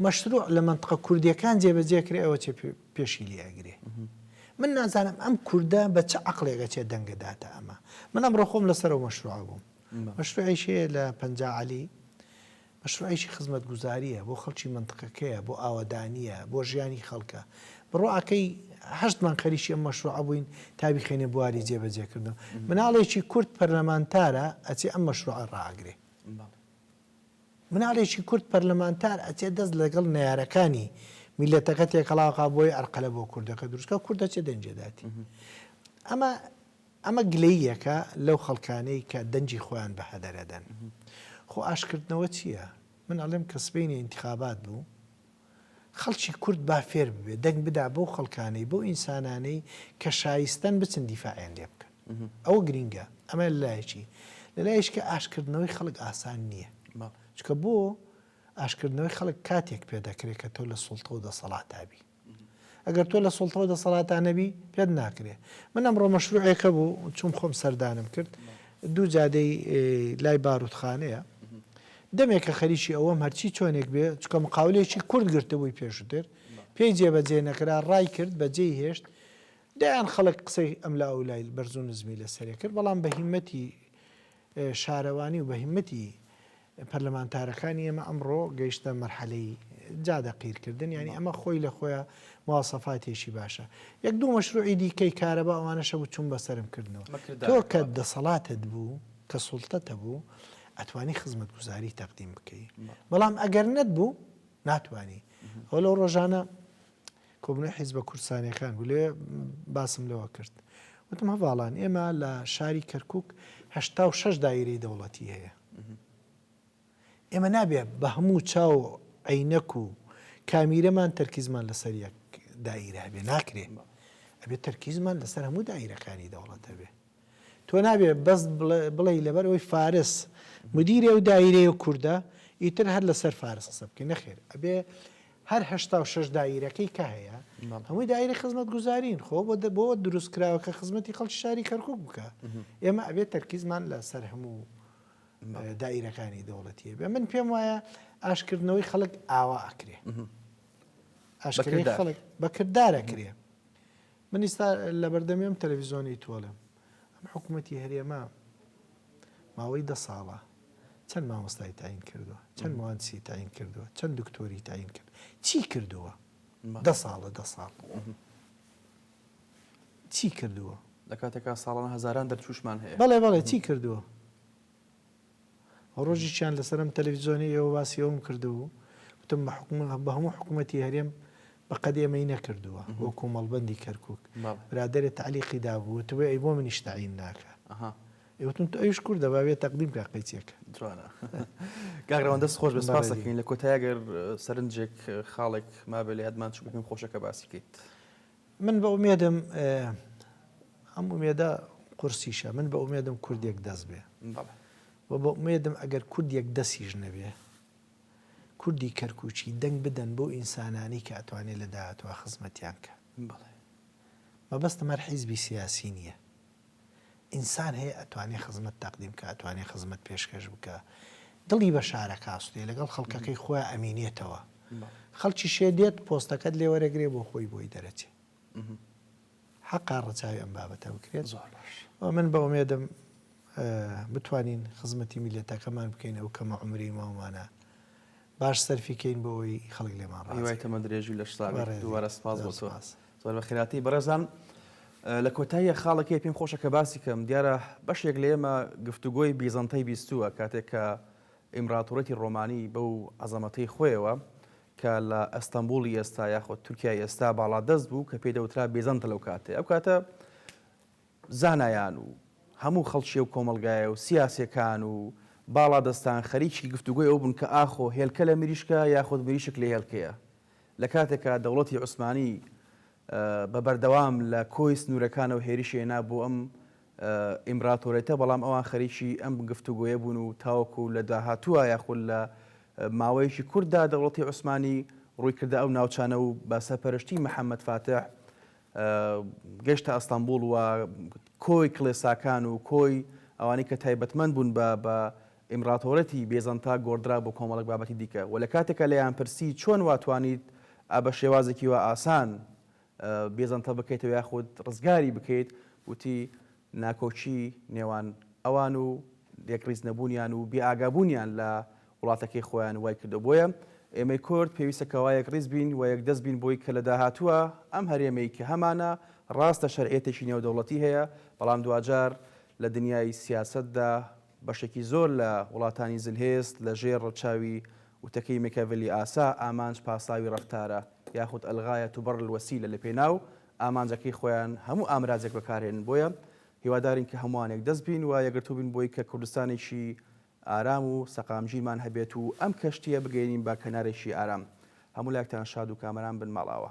B: مەشروع لە مەنتقە کوردیەکان جێبەجێ کرێ ئەوە چێ پێشی لێ ئەگرێ من نازانم ئەم کووردە بە چ عقلێکە چێ دەنگەداتە ئەمە من ئەم ڕۆخۆم لەسەر و مەشروع بووم مەشروعیشێ لە پەنجا علی مەشروعێکی خزمەتگوزارییە، بۆ خەڵکی مەنتقەکەیە، بۆ ئاوەدانییە، بۆ ژیانی خەڵکە. بڕۆ ئاکەی هەشتمان خەریکی ئەم مەشروعە بووین تا بیخەینە بواری جێبەجێکردنەوە. مناڵێکی کورد پەرلەمانتارە ئەچێ ئەم مەشروعە ڕائەگرێ. مناڵێکی کورد پەرلەمانتار ئەچێ دەست لەگەڵ نەیارەکانی میللەتەکە تێکەڵاوکا بۆی ئەرقەلە بۆ کوردەکە دروستکا و کورد ئەچێ دەنگی دەداتی. ئەمە ئەمە گلەییەکە لەو خەڵکانەی کە دەنگی خۆیان بە هەدەر ئەدەن. خۆ ئاشتکردنەوە چییە؟ من ئەڵێم کە سبەینێ ئینتخابات بوو، خەڵکی کورد با فێر ببێ دەنگ بدا بەو خەڵکانەی، بەو ئینسانانەی کە شایستەن بچن دیفاعیان لێ بکەن. ئەوە گرینگە. ئەمە لە لایەکی. لە لایەکی ئاشتکردنەوەی خەڵک ئاسان نییە. چونکە بۆ ئاشتکردنەوەی خەڵک کاتێک پێ دەکرێ کە تۆ لە سوڵتە و دەسەڵاتا بی. ئەگەر تۆ لە سوڵتەو دەسەڵاتا نەبی پێت ناکرێ من ئەمڕۆ مەشروعێک هەبوو چووم خۆم سەردانم کرد دوو جادەی لای باروتخانەیە دەمێکە خەریکی ئەوەم هەرچی چۆنێک بێ چکە مقاولێکی کورد گرتبووی پێشتر پێی جێبەجێ نەکرا ڕای کرد بەجێی هێشت دەیان خەڵک قسەی ئەم لە ئەولای بەرزو نزمی لەسەرێ کرد بەڵام بە هیمەتی شارەوانی و بەهیمەتی پەرلەمانتارەکانی ئێمە ئەمڕۆ گەیشتە مەرحەلەی جادە قیرکردن یانی ئەمە خۆی لە خۆیان مواسەفاتێکی باشە یەک دوو مەشروعی دیکەی کارەبا ئەوانەشە بوو چون بەسرم کردنەوە تۆ کە دەسەڵاتت بوو کە سوڵتەتە بوو ئەتوانی خزمەت گوزاری تەقدیم بکەی بەڵام ئەگەر نەت بوو ناتوانانی ئەو لەو ڕۆژانە کۆبوونەوەی حیزبە کوردستانییەکان بوو، لەوێ باسم لەوە کرد، وتم هەڤاڵان ئێمە لە شاری کەرکووک هەشتا و شەش دایرەی دەوڵەتی هەیە، ئێمە نابێ بە هەموو چاو و عەینەک و کامیرەمان تەرکیزمان لەسەر یەک دایرە هەبێ، ناکرێ، ئەبێ تەرکیزمان لەسەر هەموو دایرەکانی دەوڵەت هەبێ. تۆ نابێ بەس بڵێی لەبەر ئەوەی فارس مدیرێ و دایرەیە و کوردە ئیتر هەر لەسەر فارس قسە بکەین نەخێر ئەبێ هەر هشتا و شش دایرەکەی کە هەیە هەمووی دایرە خزمەت گوزارین خۆ بۆ بۆ دروست کراوە کە خزمەتی خەڵکی شاری کەرکک بکە ئێمە ئەبێت تەرکیزمان لە سەر هەموو دایرەکانی دەوڵەتیە بێ من پێم وایە ئاشکردنەوەی خەڵک ئاوا ئەکرێ ئاشکردنی خەڵک بەکردارە کرێ من ئیستا لەبەردەمی ئەم تەلەفیزۆنەی تۆڵەم ئەم حکومەتی هەرێمە ماوەی دە ساڵە چەند مامۆستای تاین کردووە چەند موانسی تاین کردووە چەند دکتۆری تاین کرد چی کردووە دە ساڵە دە ساڵ چی کردووە لە
A: کاتێکا ساڵانە هەزاران دەرچوشمان هەیە بەڵێ بەڵێ چی کردووە
B: ڕۆژیکیان لەسەر ئەم تەلەفزیۆنەی ئێوە باسی ئەوم کردو و وتم بە حکومە بە هەموو حکوومەتی هەرێم بە قەد ئێمەی نەکردووە وەکو مەڵبەندی کەرکک برادێ تەعلیقی دابوو وتبێ ئەی بۆ منیش تەعین ناکە ئێوتون تو ئەوش کوردە باێ تەقدیم کا قەیچێکە جوانە
A: گاگرەوەن دەست خۆش بە سپاسەکەین لە کۆتایگەر سەرنجێک خاڵێک مابێ لە یادمان چ بکەین خۆشەکە باسیکەیت من بە
B: ئومێدم ئەم ئومێدە قورسیشە من بە ئومێدم کورد یەک دەست بێ و بە ئومێدم ئەگەر کورد یەک دەسیش نەبێ کوردی کەرکوچی دەنگ بدەن بۆ ئینسانانی کە ئەتوانێت لە داهاتوە خزمەتیان کە مەبەستم هەر حیزبی سیاسی نییە ئینسان هەیە ئەتوانێ خزمەت تەقدیم بکا ئەتوانێ خزمەت پێشکەش بکا دڵی بە شارەکە ئاسودەیە لەگەڵ خەڵکەکەی خۆیان ئەمینێتەوە خەڵکیشێ دێت پۆستەکەت لێ وەرەگرێ بۆ خۆی بۆی دەرەچێ حەقا ڕەچاوی ئەم بابەتە بکرێت زۆر باش و من بە ئومێدم بتوانین خزمەتی میلەتەکەمان بکەین ئەو کەمە عمری ماومانە باش سەرفیکەین بۆ ئەوی خەڵک لێمان ڕای تەمە درێژی لە
A: شتا دووارە سپاس بۆ سپاس. زۆر بە خێراتیی بەڕێزان. لە کۆتاییە خاڵەکەی پێم خۆشە کە باسی کەم. دیارە بەشێک لە ئێمە گفتوگۆی بیزەنتەی بیستووە کاتێک کە ئیمڕاتوڕێتی ڕۆمانی بەو عەزەمەتەی خۆیەوە کە لە ئەستەنبوڵی ئێستا یاخود تورکیای ئێستا باڵادەست بوو کە پێی دەوترا بیزەنتە لەو کاتەی ئەو کاتە زانایان و هەموو خەڵکی ئەو کۆمەڵگایە و سیاسیەکان و باڵادەستان خەریکی گفتوگۆی ئەوە بوون کە ئاخۆ هێلکە لە مریشکە یاخود مریشک لە هێلکەیە؟ لە کاتێکا دەوڵەتی عوسمانی بە بەردەوام لە کۆی سنوورەکانەوە هێرشی هێنا بۆ ئەم ئیمبراتۆرێتە، بەڵام ئەوان خەریکی ئەم گفتوگۆیە بوون و تاوەکو لە داهاتووا یاخود لە ماوەیەکی کورتدا دەوڵەتی عوسمانی ڕووی کردە ئەو ناوچانە و بە سەرپەرشتی محەمەد فاتح گەشتە ئەستەنبوڵ و کۆی کڵێساکان و کۆی ئەوانەی کە تایبەتمەند بوون بە ئیمڕاتۆرەتی بێزەنتا گۆڕدرا بۆ کۆمەڵێک بابەتی دیکە و لە کاتێکا لێیان پرسی چۆن وا توانیت ئا بە شێوازێکی وا ئاسان بێزەنتە بکەیتەوە یاخود ڕزگاری بکەیت وتی، ناکۆکی نێوان ئەوان و یەکڕیز نەبوونیان و بێ ئاگابوونیان لە وڵاتەکەی خۆیان وای کردووە بۆیە ئێمەی کورد پێویستە کەوا یەکڕیز بین و یەکدەست بین بۆی کە لە داهاتووا ئەم هەرێمەی کە هەمانە ڕاستە شەرعیەتێکی نێودەوڵەتی هەیە بەڵام دواجار لە دنیای سیاسەتدا بەشێکی زۆر لە وڵاتانی زلهێز لە ژێر ڕەچاوی وتەکەی مێکاڤێلی ئاسا ئامانج پاساوی ڕەفتارە یاخود الغایە تبرر الوسیلە لە پێناو ئامانجەکەی خۆیان هەموو ئامرازێک بەکارهێنن بۆیە هیوادارین کە هەمووان یەکدەست بین و یەکگرتوو بین بۆی کە کوردستانێکی ئارام و سەقامگیرمان هەبێت و ئەم کەشتییە بگەیەنین بە کەنارێکی ئارام هەموو لایەکتان شاد و کامەران بن ماڵئاوا.